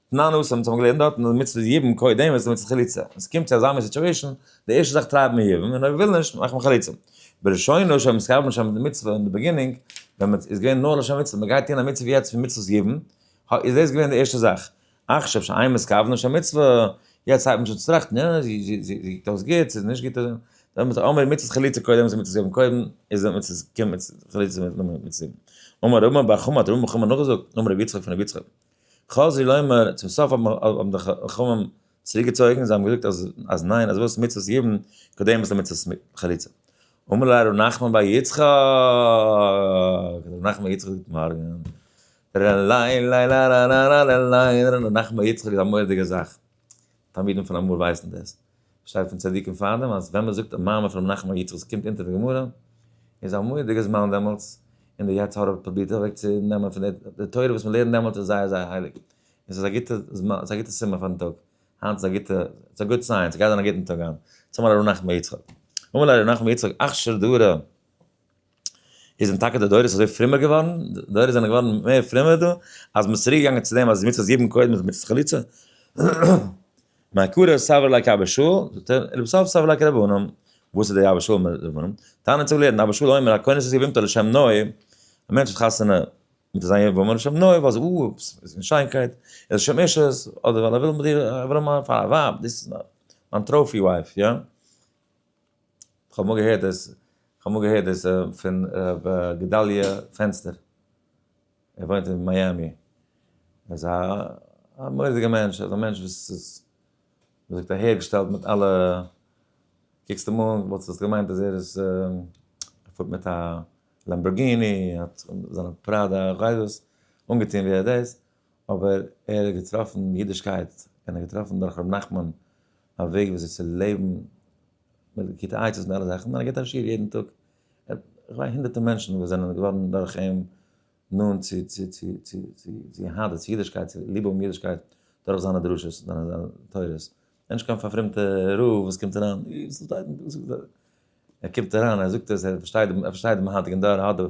תנא נוסח וואס האבן געלערנט דארט אז מצוה איז יבום קודם איז מצוה חליצה ווען ס'קומט צו אזא מין סיטואישען די ערשטע זאך טרייב מען יבום און אויב מ'וויל נישט מאכט מען חליצה בראשונה שוין מ'איז חייב נשמה די מצוה אין די ביגינינג ווען מ'איז געווען נאר לשם מצוה מ'גייט טון א מצוה יעצט פון מצוות יבום איז דאס געווען די ערשטע זאך עכשיו שאין מ'איז חייב נשמה מצוה יעצט הייבט מען שוין צו טראכטן יא זי טוט דאס גוט ס'איז נישט גוט דאן מ'איז אמער מצות חליצה קודם איז מצות יבום קודם איז די מצות קומט מיט חליצה מיט מצות יבום אמר רמא בר חמא האט רמא בר חמא נאכגעזאגט אמר רבי יצחק פון רבי יצחק חזי לומר, צום סוף האבן די חכמים צוריק געצויגן, זיי האבן געזאגט אז ניין, אז וואס מצוות יוון, קודם איז די מצוות חליצה. אמר ליה ר' נחמן בר יצחק, ר' נחמן בר יצחק זאגט מארגן, ר'ליין ליין ר'ליין ר'ליין ר' נחמן בר יצחק איז א מורא'דיגע זאך, תלמידים פון אמאל ווייסן דאס. שטייט פון צדיקים פארדעם אז ווען מ'זאגט א מאמר פון ר' נחמן יצחק וואס קומט אונטער די גמרא, איז א מורא'דיגע זמן דעמאלטס, און די יצר הרע פרובירט אוועק צו נעמען פון דער, די תורה וואס מ'לערנט דעמאלטס איז זייער זייער הייליג, און ס'איז א גוטע זמן, ס'איז א גוטע סימן פאר'ן טאג, היינט איז א גוטע, ס'איז א גוד סיין, ס'גייט זיין א גוטן טאג היינט. צומאל א ר' נחמן יצחק. אמאל א ר' נחמן יצחק אכשר דרא. איז דען טאקע די דורות אזוי פרומער געווארן? די דורות זענען געווארן מער פרומער דא אז מען איז צוריק געגאנגען צו דעם אז מצוות זיבן קודם איז מצוות חליצה? מאי קרא סבר לייק אבא שאול, זאגט ער, און לבסוף סבר לייק רבי אונם, וואס איז דער אבא שאול מיט רבי אונם? טענה'ן צו לערנען אבא שאול אומר הכונת איז יבמתו לשם נאה, א מענטש האט חתונה מיט זיין יבמה לשם נאה ווייל זי איז אין שיינקייט, ער איז לשם אישות, אדער ווייל ער וויל מיט איר ער וויל אים האבן פאר א ווייב, דאס איז מיין טראפי ווייב, יא? כ'האב אמאל געהערט דאס, כ'האב אמאל געהערט דאס פון ר' גדליה פענסטער, ער וואוינט אין מיאמי, ער איז א מורא'דיגע מענטש, אזא מענטש וואס איז ווי מ'זאגט אהערגעשטעלט מיט אלע, קוקסט אים אן וואלטסט עס געמיינט אז ער איז, ער פארט מיט א לאמבארגיני, ער האט זיינע פראדא חבוש, אנגעטון ווי ער דאס, אבער ער האט געטראפן אידישקייט און ער האט געטראפן דורך ר' נחמן א וועג וויאזוי צו לעבן מיט גוטע עצות און אלע זאכן, און ער גיבט א שיעור יעדן טאג, כ'מיין הונדערטער מענטשן וואס זענען געווארן דורך אים נאנט צו צו צו צו צו יהדות, צו אידישקייט, צו ליב האבן אידישקייט דורך זיינע דרשות, זיינע תורות, איך בין נישט קיין פארפרומטע רב וואס קומט אריין, אי וואס שטייט אין פסוק דא? ער קומט אריין ער זאגט עס ער פארשטייט ער פארשטייט דעם היינטיגן דור ער האט די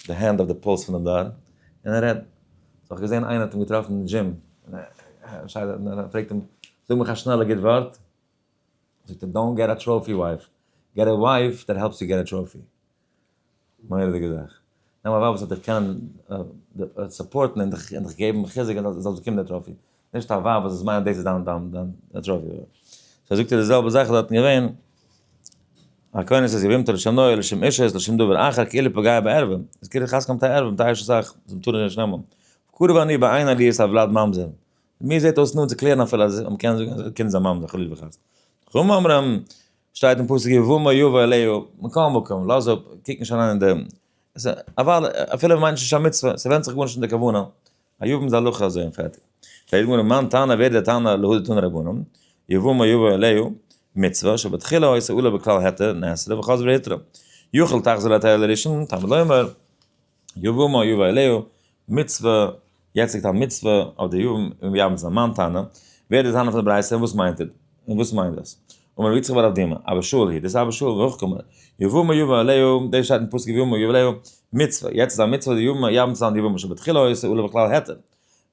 די הענד אויף די פולס פונעם דור און ער רעדט. איך האב געזען איינער האט אים געטראפן אין דזשים און ער פרעגט אים זאג מיך א שנעלע גוט ווארט זאגט ער דאנט געט א טראפי ווייף געט א ווייף דעט העלפס יו געט א טראפי. מורא'דיגע זאך. נעם א ווייב וואס וועט דיך קענען סופארטן און דיך און דיך געבן חיזוק אז דו זאלסט באקומען די טראפי. נישט א ווייב וואס וועט מיינען דאס איז דיין דיין דיין טראפי. סאו זאגט ער די זעלבע זאך איז דארטן געווען. הכוונה איז יבמתו לשם נאה לשם אישה לשם דבר אחר כאילו פגע בערווים. איז כאילו חזקה מיט א ערווים טייער שוין סאך זיי טארן נישט נעמען. קרוב אני בעין עליות על ולד ממזר. מיר זעט אויס נאנט צו קלערן אפילו אז מ'קען זאגן אז א קינד איז א ממזר חלילה וחס. חכמים אומרים שטייט אין פסוק יבוא מה יבוא אליהו, מכל מקום, לאז אפ, קוק נישט אריין אין דעם. עס איז אוודאי, אפילו מען מיינט נישט א מצוה, ס'ווענדט זיך גארנישט אין די כוונה. א יבום איז א הלכה אזוי און פערטיג. פרעגט די גמרא, מאן טענה ווער איז דער תנא להוא דתנא רבנן, יבוא מה יבוא אליהו, מצוה, שבתחילה העושה עולה בכלל היתר, נאסרה, וחוזר והיתרה. יאכל תחזור להתעלה לראשון, תלמוד לומר. יבא מה יבא אליהו, מצוה, יעצט ליגט א מצוה אויף די יבאים און ווי אבער ס'איז א מאן טענה, ווער איז די טענה פון די ברייתא און וואס מיינט און וואס מיינט דאס? אמר רבי יצחק בר אב דימא, אבא שאול הי', דאס אבא שאול וכ' קמא, יבא מה יבא אליהו, דאס שטייט אין פסוק יבא מה יבא אליהו, מצוה, יעצט איז א מצוה די יבאים יבאים צו זיין די יבאים שבתחילה היו עושה עולה בכלל העתר,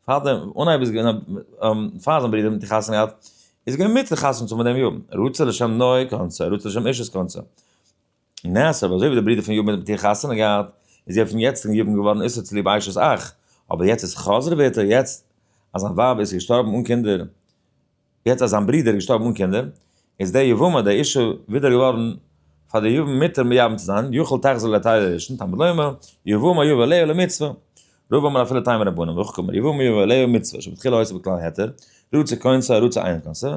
פאר דעם אנהייב איז געווען א פאר זיין ברודער מיט חתונה געהאט, איז געווען מצוה חתונה צו האבן מיט דעם יבאים, רוצה לשם נוי קונצא, רוצה לשם אשת קונצא. און נעשה אבער אזוי ווי די ברודער פון יבמ האט מיט איר חתונה געהאט איז זי אויפן יעצטיגן יבמ געווארן איסור צוליב אשת אח, אבער יעצט איז חזרה בעתה יעצט אז זיין ווייב איז געשטארבן אן קינדער, יעצט אז זיין ברודער איז געשטארבן אן קינדער, איז די יבמה די אישה ווידער געווארן פאר די יבמ מותר מייבם צו זיין, יוכל תחזור לתי' הראשון, תלמוד לומר, יבמה יבא ליה למצוה, רוב אמר אפילו תי' מרבנן, והוא כומר, יבמה יבא ליה מצוה, שבתחילה הויסע בכלל היתר, רצה כונסה רצה אין כונסה,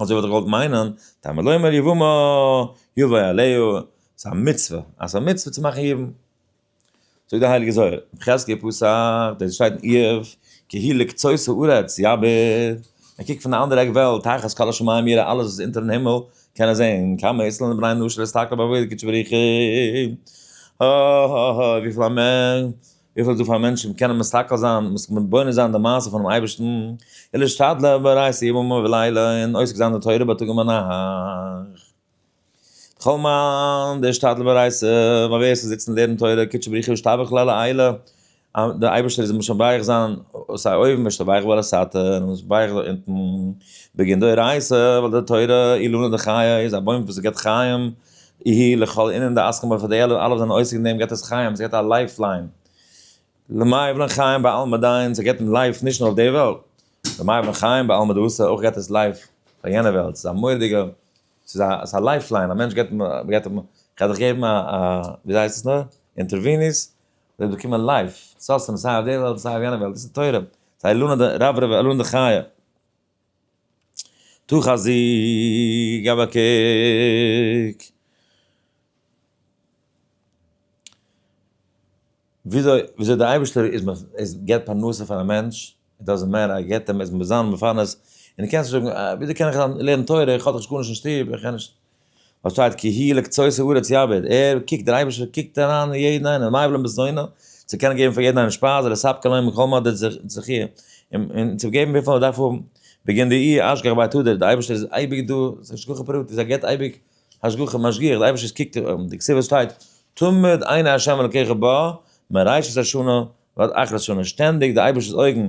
אזוי וואלט איך געוואלט מיינען, טעמא לומר יבמא יבוא עליהו, ס'איז א מצוה, אז ס'איז א מצוה צו מאכן יבום. זאגט דער הייליגער זוהר, חזקי פסח, דאס שטייט אין איוב, כי היא לקצות הארץ יעבוד, ער קוקט פון די אנדערע עק וועלט, תחת כל השמים יראה, אלעס וואס איז אונטערן הימל קען ער זען, כמה יצלן לבני אנוש להסתכל בעבודת קודש בריחו, ה ה ה וויפיל א מענטש. וויפיל איז דא פאר מענטשן וואס קענען מסתכל זיין און מסכ מתבונן זיין די מעשה פונעם אייבערשטן, און להשתדלן ברייס יומם ולילה, און עוסק זיין די תורה ביי טאג און ביינאכט. לכל מאן דהשתדל ברייס י, ווייל ווער עס איז זיצן לערנען תורה קודשא בריך הוא ישתבח לאל העילא, די אייבערשטער איז אים משבח זיין, סיי אויבן משתבח ועל הסתר, און משבח זיין אונטן, בגין דאורייתא, ווייל די תורה אילנא דחיי איז א בוים וואס געבט חיים, איהי לכל ענין די עסקן בו וכדו' אלע וואס זענען עוסק אין דעם געבט עס חיים, עס געבט א לייף ליין, למאי ולן חיים בעלמא דיין, עס געבט אים לייף נישט נאר אויף די וועלט, למאי ולן חיים בעלמא דאוסא אויך געבט עס לייף פאר יענע וועלט, עס איז א מורא'דיגע, עס איז א לייף ליין, א מענטש געבט, מען געבט אים, כ'גיי דיך געבן א א ווי הייסט עס נאר, אינטערוויניס, דו וועסט באקומען לייף, סוסטענעס סיי אויף די וועלט און סיי אויף יענע וועלט, דאס איז תורה, ס'הייסט לנה דרבה ולנה דחיה. טו חזיר, געב א קוק. וויאזוי וויאזוי דער אייבערשטער איז מ איז געבט פרנסה פאר א מענטש, דאזענט מעטער אז ער געבט אים, עס מוז זיין מפרנס, און דו קענסט נישט זאגן, וויאזוי קען איך לערנען תורה, איך האב דאך נישט גארנישט אין שטוב, איך קען נישט. פארשטייט כי הי' לקצות הארץ יעבוד, ער קוקט, דער אייבערשטער קוקט אריין אין יעדן איינעם, מה יבלע מזונו, צו קענען געבן פאר יעדן איינעם שפייז, לספק להם מכל מה דארט זיך זיך איר, און צו געבן וויפיל ער דארף האבן, וועגן די אי אשגח בית הדר, דער אייבערשטער איז אייביג דא, ס'איז השגחה פרטית, ער געבט אייביג השגחה, משגיח, דער אייבערשטער קוקט, אין די כתובות שטייט, תמיד עיני ה' אלקיך בה, מראשית השנה ועד אחרית השנה, שטענדיג די אייבערשטער'ס אויגן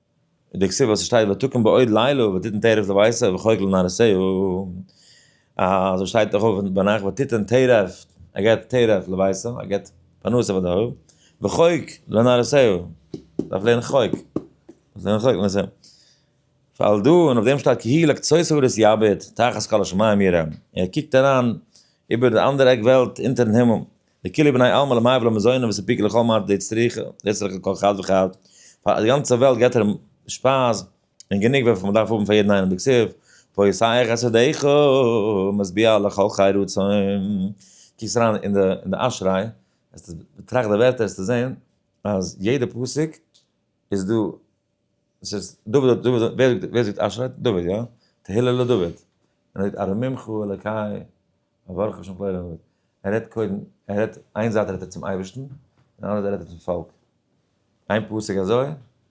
אין די כתובה וואס שטייט ותקום בעוד לילה ותתן טרף לבית וחוק לנהרסהו, אזוי שטייט דאך אויך ביינאכט ותתן טרף, ער געבט טרף לבית, ער געבט פרנסה פאר די הויף, וחוק לנהרסהו, דארף לערנען חוק, דארף לערנען חוק לנהרסהו, פאלט דא און אויף דעם שטייט כי היא לקצות הארץ יביט תחת כל השמים יראה, ער קוקט אריין איבער די אנדערע עק וועלט אונטערן הימל. לכולי בני עלמא למאי ולא מזוני וואס איז פיקר לכל מר די צריכה לצרוך לכל חד וחד פאר די גאנצע וועלט געט ער שפייז און גענוג וועפל מ'דארף האבן פאר יעדן איינעם דקסוב פה יסעיך את ידיך משביע לכל חי רצון קוקסט אריין אין די אין די אשריי וועסטו באטראכט די ווערטער וועסטו זען אז יעדע פסוק איז דא עס איז דוד האט דוד ווער זאגט ווער זאגט אשרי דוד יא תהילה לדוד ער זאגט ארוממך אלקי אברך השם פלאי דוד ער רעדט קודם ער רעדט איין זייט רעדט ער צום אייבערשטן און אנדערע זייט רעדט ער צום פאלק איין פסוק אזוי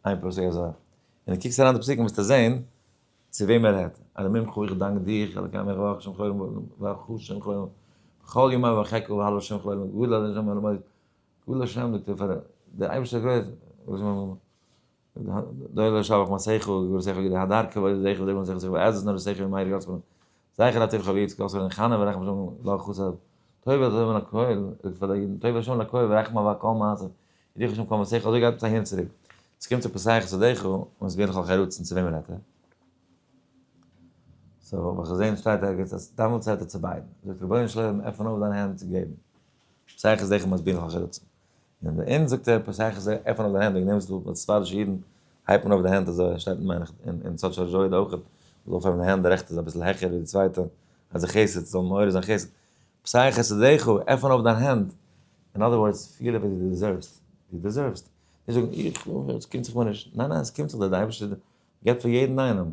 איין פסוק אזוי און דו קוקסט אריין די פסוקים וועסטו זען צו וועם ער רעדט ארוממך איך דאנק דיך אלקי אברך השם פלאי דוד ואברך השם פלאי דוד בכל ימיו ואחכה והלוה השם פלאי דוד גדול השם אלוהי כולו שם לתפארת, דער אייבערשטער איז גרויס, וואס מיין מאמע? דוי לא שבח מה שכל, געווער שכל געדע הדר כבוד איז זכר דעם זכר זכר עזות נאר שכל מאיר גאלדס פון זכר אטיב חביץ קאס פון חנה ורחם שם לא חסר טוב אז אבער נקויל איז פאר דעם טוב שם לקוי ורחם אבער קאם אז איך שם קאם שכל אזוי גייט צייט צוריק עס קומט צו פסח סדך און עס גייט נאך חרוץ צו וועם רעדט ער סאו וואס איך זען שטייט ערגעץ אז דאמאלטס האט ער צו ביידן זאגט רבונו של עולם עפן אויף דיין הענט צו געבן שטייכער זיך און מסביר אויף החלוצים. און ביי אונז זאגט ער פסח זיי עפענען אויף די הענט וועגן דעם זאגט די ספרדישע אידן הייבט מען אויף די הענט אזוי און שטייט מען אין צד של ז'ויד אויך אויף אויף די הענט די רעכטע זיין אביסל העכער ווי די צווייטע אז די חסד זאל מעורר זיין חסד פסח חסדיך עפען אויף דיין הענט אין אדער ווארדס פיל ווי די דעזערווס די דעזערווס נישט זאגן איך וויל עס קומט זיך מיר נישט ניין ניין עס קומט זיך דער אייבערשטער געבט פאר יעדן איינעם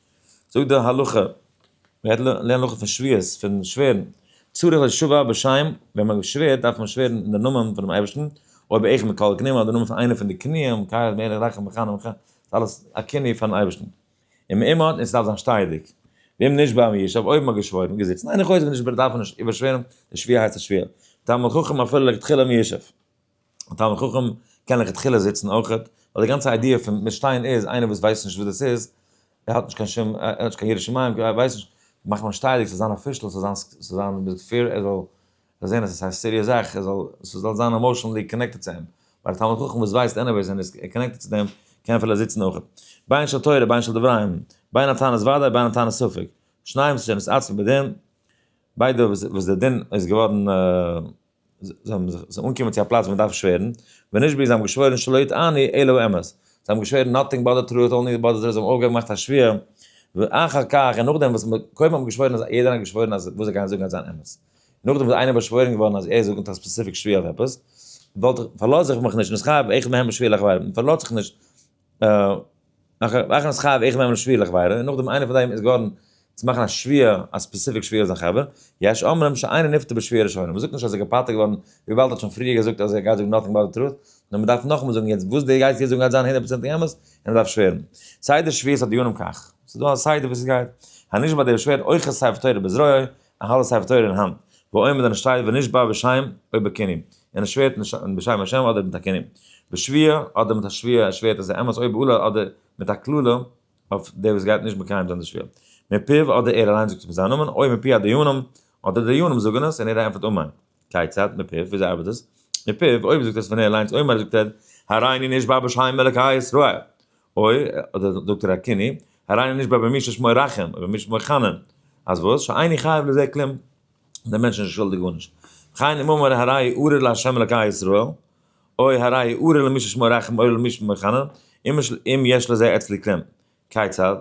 זאגט די הלכה, מען גייט לערנען הלכה פון שוויות, פון שווערן, צריך לשבוע בשם, ווען מען שווערט דארף מען שווערן אין די נאמען פונעם אייבערשטן, אויב איך מיט קאלעק נעם איך די נאמען פון איינע פון די קנאים, קאיעך מעלעך רחם וחנון וכו', ס'איז אלעס א קנאה פארן אייבערשטן. און מען אימערט און ס'דארף זיין שטייעדיג. ואם נשבע אום ישב, אויב מען האט געשוואוירן, געזיצן, איין אחד איז נשבע דארף מען נישט איבערשווערן, די שביעה הייסט א שביעה. טעם החכם אפילו לכתחילה אום ישב. א תלמיד חכם קען לכתחילה זיצן אויך, ווייל די גאנצע איידיע פון מיט שטיין איז איינער וואס ווייסט נישט וואס דאס איז, ער האט נישט קיין שום, ער האט נישט קיין ירא שמים, ער ווייסט נישט, מאכט מען שטייעדיג, ס'זאל זיין אפישעל, ס'זאל זיין מיט געפיר, ער זאל זען אז עס איז א סיריעס זאך, ער זאל, ס'זאל זיין עמאושענעלי קאנעקטעד צו אים, ווייל א תלמיד חכם וואס ווייסט עניוועיס און איז קאנעקטעד צו דעם, קען אפילו זיצן אויך. ביין של תורה, ביין של דברים, ביין א תענית ודאי, ביין א תענית ספק, שניהם שנית עצמי בדין, ביידע וואס דער דין איז געווארן. זיי האבן זיך זיי אנגעקומען צו א פלאץ ווי מען דארף שווערן, ונשבעו זיי האבן געשוואוירן שלא יטעני אלא באמת, זיי האבן געשוואוירן נאטינג באדערט ר' אט אנלי באדערט ר', זיי האבן אויפגעהויבן געמאכט א שווער, ואחר כך און נאכדעם וואס מען קודם האט מען געשוואוירן אז יעדער האט געשוואוירן אז וואס זיי גייען זאגן וועט זיין אמת, נאכדעם איז איינער באשוואוירן געווארן אז ער זאגט מיט א ספעסיפיק שווער אויף עפעס, וואלט איך, פארלאז איך מיך נישט, נסחב איך מהם בשביל איך ווייל, מען פארלאזט זיך נישט, מאכן עס חייב איך נעם א שביעי לכבודה און נאכדעם איינער פון די איז געווארן צו מאכן א שביעי א ספעסיפיק שביעי אויף זיין חבר, יש אומרים שאינו נפטר בשביעי הראשונה, מ'זאגט נישט אז ער איז געפטר געווארן וויבאלד ער האט שוין פריער געזאגט אז ער גייט זאגן נאטינג באט די טרוט, נאר מ'דארף נאכאמאל זאגן יעצט וואס די גייסט יעצט זאגן גייט זיין הונדערט פראצענטיג אמת און מ'דארף שווערן. סדר שביעית הדיונים כך, ס'איז דא א סדר ווי ס'גייט, הנשבע דער שווערט אויך כספר תורה בזרועו, א האלב ספר תורה אין האנט, ועומד און עס שטייט ונשבע בשם אויב בכנים, און עס שווערט מיט בשם השם אדער מיט א כנים, בשביה אדער מיט א שביעה עס שווערט אז די אמת אויב אולי אדער מיט א קללה אויף די וואס גייט נישט מקיים זיין די שביעה, מפיו אדער ער אליין זאגט עס מיט זיין נאמען, אויב מפי הדיינים אדער די דיינים זאגן עס און ער ענטפערט אמן. כיצד? מפיו, וויאזוי ארבעט עס? מפיו, אויב זאגט עס פון ער אליינס אומר זאגט ער הריני נשבע בשם אלוקי ישראל, אוי, אדער זאגט ער הקיני, הריני נשבע במי ששמו ירחם ובמי ששמו יחנן, אז וואס? שאיני חייב לזה כלום, דער מענטש איז נישט שולדיג גארנישט. וכן אם אמר הריי ארור לה' אלקי ישראל, אוי, הריי ארור למי ששמו ירחם אוי למי ששמו יחנן, אם יש לזה אצלי כלום. כיצד?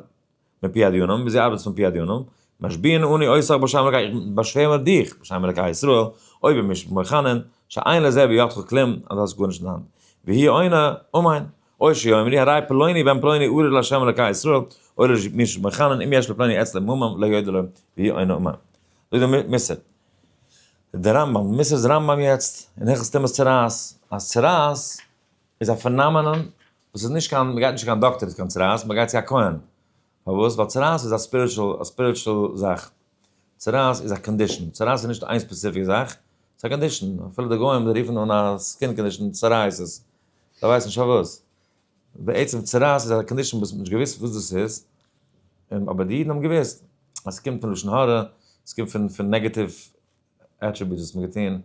מפי הדיונם, ווי זי ארבעט פון פי הדיונם, משביעין אני אותך בשם אלקי, איך באשווער מיט דיך בשם אלקי ישראל, אויב איז מישט מוכנען, שאין לזה בידך כלום, אז דו האסט גארנישט אין האנט, והיא עונה, אמן, או שיאמרי הרי פלוני בן פלוני ארור לה' אלקי ישראל, אויב איז מישט מוכנען, אם יש לפלוני עצה למומם, לא יודע לו, והיא עונה אמן. זאגט דער מוסר, דער רמב ם, מוסר איז רמב ם יעצט, אין הלכות טומאת צרעת, אז צרעת, איז א פענאמענאן וואס איז נישט קיין, מ'גייט נישט צו קיין דאקטער איז קיין צרעת, מ'גייט צו א כהן. פארוואס? ווייל צרעת איז א ספיריטשול, א ספיריטשול זאך. צרעת איז א קאנדישאן, צרעת איז נישט איין ספעציפיק זאך, ס'איז א קאנדישאן, אפילו די גוים רופן אן א סקין קאנדישאן סארייעסיס, זיי ווייסן נישט פארוואס. בעצם צרעת איז א קאנדישאן וואס מ'האט נישט געוואוסט וואס דאס איז, אבער די אידן האבן געוואוסט אז ס'קומט פון לשון הרע, ס'קומט פון פון נעגעטיוו עטריביוטס וואס מ'האט געטון,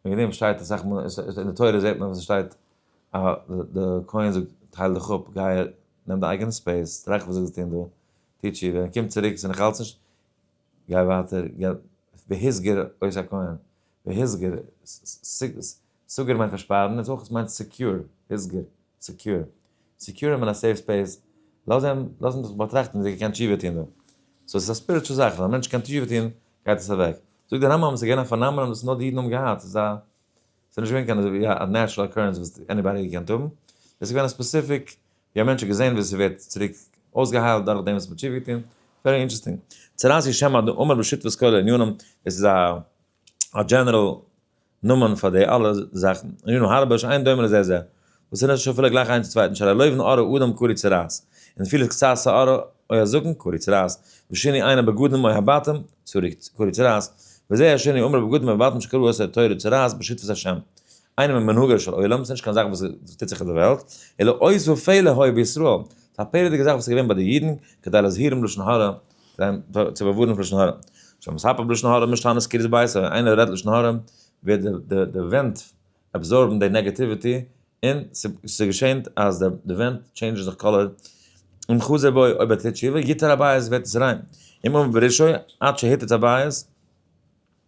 וועגן דעם שטייט אסאך מאל אין די תורה זעט מען וואס עס שטייט א די כהן זאגט טייל דיך אפ גיי נעם דיין אייגענע ספעיס טראכט וואס זאלסט טון דא טו תשובה קום צוריק ס'איז נאכאלץ נישט גיי ווייטער והסגר אויס א כהן והסגר סגר מיינט פארשפארן און ס'אויך מיינט סעקיור הסגר סעקיור סעקיור אים אין א סעיף ספעיס לאז אים לאז אים זיך באטראכטן זי קען תשובה טון דא סאו ס'איז א ספיריטשול זאך אז א מענטש קען תשובה טון גייט עס אוועק. זאגט דער רמב ם אז עס איז געווען א פענאמענאן וואס נאר די אידן האבן געהאט, ס'איז א, ס'איז נישט געווען קיין אזוי ווי א נעטשרעל אקורענס וואס עניבאדי האט געקענט האבן, עס איז געווען א ספעסיפיק ווי א מענטש האט געזען ווי עס ווערט צוריק אויסגעהיילט דורך דעם וואס מ'האט תשובה געטון, ווערי אינטערעסטינג. צרת ישמעאל דאמר בשותפות כולל ענינים, עס איז א דזשענעראל נאמען פאר די אלע זאכן, ראינו הרבה שאין דומה לזה זה, וואס איז נישט אפילו גלייך איינס צום צווייטן, שלא לויבן ארא אדם קרי צרעת, און אפילו איז קצת שערה אוי א זקן קרי צרעת, ושני עינה בגדים אוי הבטם צרי קרי צרעת, וזה השני אמר בגדים אוי הבטם שקרו אסור תורה צרעת בשותפות השם, איינער ממנהגו של עולם, ס'נישט קיין זאך וואס טוט זיך אויף די וועלט, אלא עוז ופלא היה בישראל, ס'איז א פלא'דיגע זאך וואס איז געווען ביי די אידן, כדי להזהירם לשון הרע, זיין פאר צו באווארענען פון לשון הרע. שוין מספר בלשון הרע מישט טענות קרית בית ווען איינער רעדט לשון הרע ווערט די די די ווענט אבזארבן די נעגעטיוויטי און ס'געשענט אז די די ווענט טשעינדזשן זיך קאלער און חזי בוי אויב ער טוט תשובה גיט ער א בייעס ווערט עס ריין אם עובר בראשו עד שהיתת הבייעס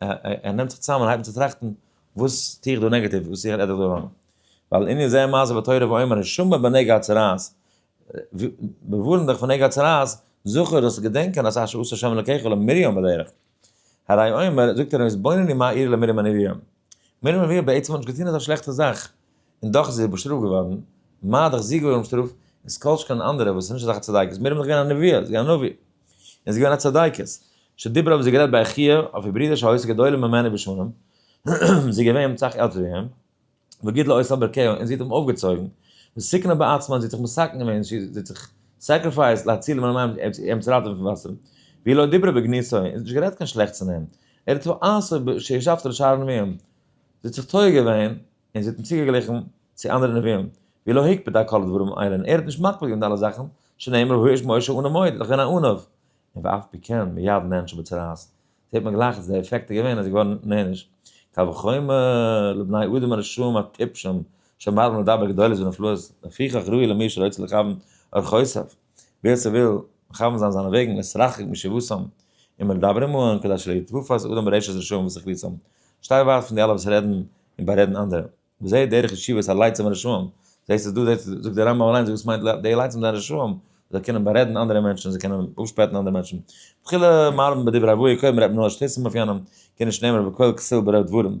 ער נעמט זיך צוזאם און הייבט אן צו טראכטן, וואס טו איך דא נעגאטיוו, וואס איך רעד איך דא ראנג? ווייל ענין זה מה זה בתורה ואומר שמא בנגע הצרעת, ווארן דיך פון נגע הצרעת, זכור זאלסטו געדענקען אז אשר עשה ה' אלוקיך למרים בדרך, הרי אומר, זאגט ער אים, התבונני מה אירע למרים און אריון, מרים און אריון בעצם האבן נישט געטון אזא שלעכטע זאך, און דאך איז ער באשטראפט געווארן, מה דאך זי געווארן באשטראפט, און ס'איז כל שכן אנדערע וואס איז נישט אזעלכע צדייקעס, מרים איז דאך געווען א נביאה, זי איז א נביא, און זי איז געווען א צדיקת, שדיברה האבן זיי גערעדט ביי אחיה, אויף איר ברודער שהיה עושה גדולים ממנה בשנים, זי איז געווען אים סאך עלטער ווי אים, וגידלה עושה ברכיה, און זי האט אים אויפגעצויגן, וסיכנה בעצמה, זי האט זיך מסכן געווען, זי האט זיך סעקריפייסד להציל מן המים, אים צו ראטעווען פון וואסער, והיא לא דיברה בגנותו, און זי האט נישט גערעדט קיין שלעכטס פון אים, ער האט וואס עשה שישבת על שער הנביאים. זי האט זיך טועה געווען און זי האט אים צוגעגליכן צו אנדערע נביאים, ווי לא הקפיד על כל הדברים האלה און ער האט נישט מקפיד געווען די אלע זאכן, שנאמר הוא איש משה אנא מועד, ער איז דאך געווען א ענו. און ואף פי כן מיד נענש בצרעת, זעט מען גלייך אז די עפעקט איז געווען אז ער איז געווארן נענש. קל וחומר לבני אדם הרשעים הטיפשים שמרבים לדבר גדולות ונפלאות, לפיכך ראוי למי שרוצה לכוון אורחותיו. ווער ס'וויל מכוון זיין זיינע וועגן איז רחוק משבותם און מדברים אהן כדי שלא יתפס אדם ברשע רשעים וסכליתם, שטיי ווייט פון די אלע וואס רעדן און בארעדן אנדערע, וזה דרך ישיבת הלייצים הרשעים, זעסט עס דא זעסט עס, זאגט דער רמב ם אליינס וואס מיינט די לייצים זענען רשעים, זיי קענען בארעדן אנדערע מענטשן, זיי קענען אפשפעטן אנדערע מענטשן, תחילה מרבין בדברי אבוה ק מרעב נאר שטיצן אויף יענעם, קען נישט נעמען בקול כסיל ברוב דברים,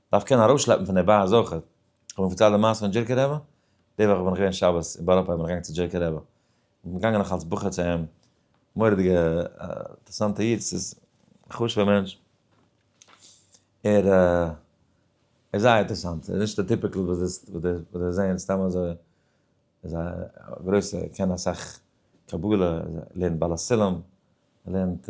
דארף קענען ארויסשלעפן פון די באס אויך. איך האב אים פארציילט די מעשה פון דזשירקע רבי, די וואך בין איך געווען שבת אין בארא פארק בין איך געגאנגען צו דזשירקע רבי, איך בין געגאנגען נאך אלס בחור צו אים, מורא'דיגע אינטערעסאנטע איד, ס'איז א חשוב'ער מענטש, ער איז זייער אינטערעסאנט, ער איז נישט די טיפיקל וואס די וואס די זעען סתם אזוי, ער איז א גרויסע, קען אסאך קבלה, ער לערנט בעל הסולם, ער לערנט.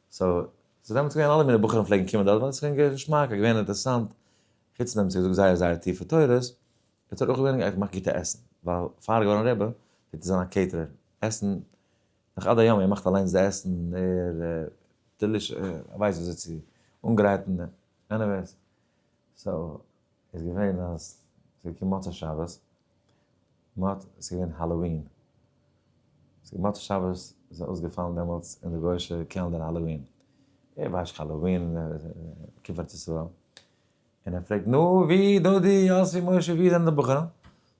סאו ס'איז דעמאלטס געווען אלע מיני בחורים פלעגן קומען דארט ווייל ס'איז געווען געווען געשמאק עס איז געווען אינטערעסאנט חוץ פון דעם ס'איז געזאגט זייער זייער טיפע תורות איז דארט אויך געווען איך מאך גוטע עסן ווייל פאר געווארן רבי פלעגט ער זיין א קעיטערער עסן נאך עד היום ער מאכט אליינס די עסן ער דעליש ער ווייסט וויאזוי צו אנגרייטן עניוועיס סאו איז געווען אז ס'איז געקומען מוצאי שבת. מט ס'איז געווען האלאווין. ס'איז מוצאי שבת איז עס אויסגעפאלן דעמאלטס אין די גוישע קעלנדער האלאווין. ער ווייסט נישט האלאווין קומט ארץ ישראל. און ער פרעגט נו ווי דודי יאסי משה ווי זענען די בחורים?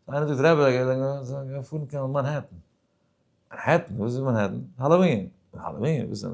איינער זאגט רבי זיי זענען געפארן קיין מאנהעטן. מאנהעטן? וואס איז מאנהעטן? האלאווין. האלאווין? וואס איז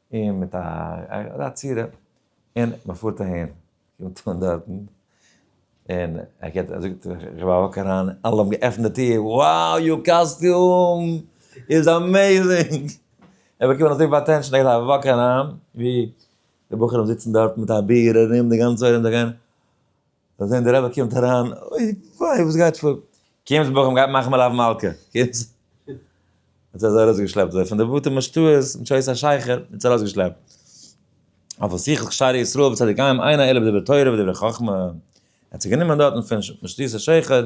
און מיט א א צורה, און מען פארט אהין, קומט אן דארטן, און ער קערט און זאגט איך וואק אריין, אלע האבן געעפנט די טיר, wow יור קאסטיום איז אמעזינג! ער האט באקומען אזויפיל אטענשאן, ער געט א וואק אריין, ווי די בחורים זיצן דארט מיט א ביר ארום די גאנצע ארום זיי גייען, זאל זען די רבי קומט אריין, אוי וויי וואס גייט פאר, קומטס בחור מ'גייט מאכן מלאו מלכה, קומטס, האט ער זיי ארויס געשלעפט זיי פון די בתי משתאות מיט שעות השחר, האט זיי ארויס געשלעפט, אויף א שיחת שערי ישראל וואס האט געגייען איינער עלעב דברי תורה ודברי חכמה, האט זיי גענומען דארטן פון משתות השחר,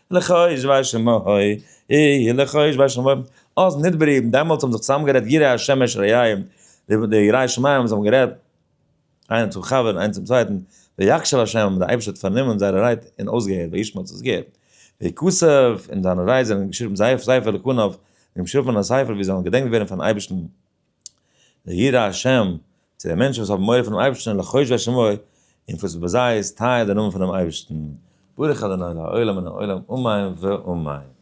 לכאו' איש ואשה שמאי אי, לכאו' איש ואשה שמאי אוזן נדברה אי, דעמאלטס האבן זיך צוזאם גערעדט יראי השם אשר יאיים, די יראי שמים האבן זיך גערעדט איינער צום חבר איינער צום צווייטן, ויקשב השם און די אייבערשטער האט פארנומען זייערע רייד און אויסגעהערט וישמע האט עס געהערט, ויקצב און זיינע רייד זענען געשריבן זייער ספר לקנב, זיי האבן געשריבן א ספר ווי זיי זאלן געדענקט ווערן פארן אייבערשטן. לירא השם, צו די מענטשן וואס האבן מורא פונעם אייבערשטן לחוש בית שמו, און וואס ביי זיי איז טייער דער נאמען פונעם אייבערשטן. ברוך אדוני לעולם מן העולם אמן ואמן.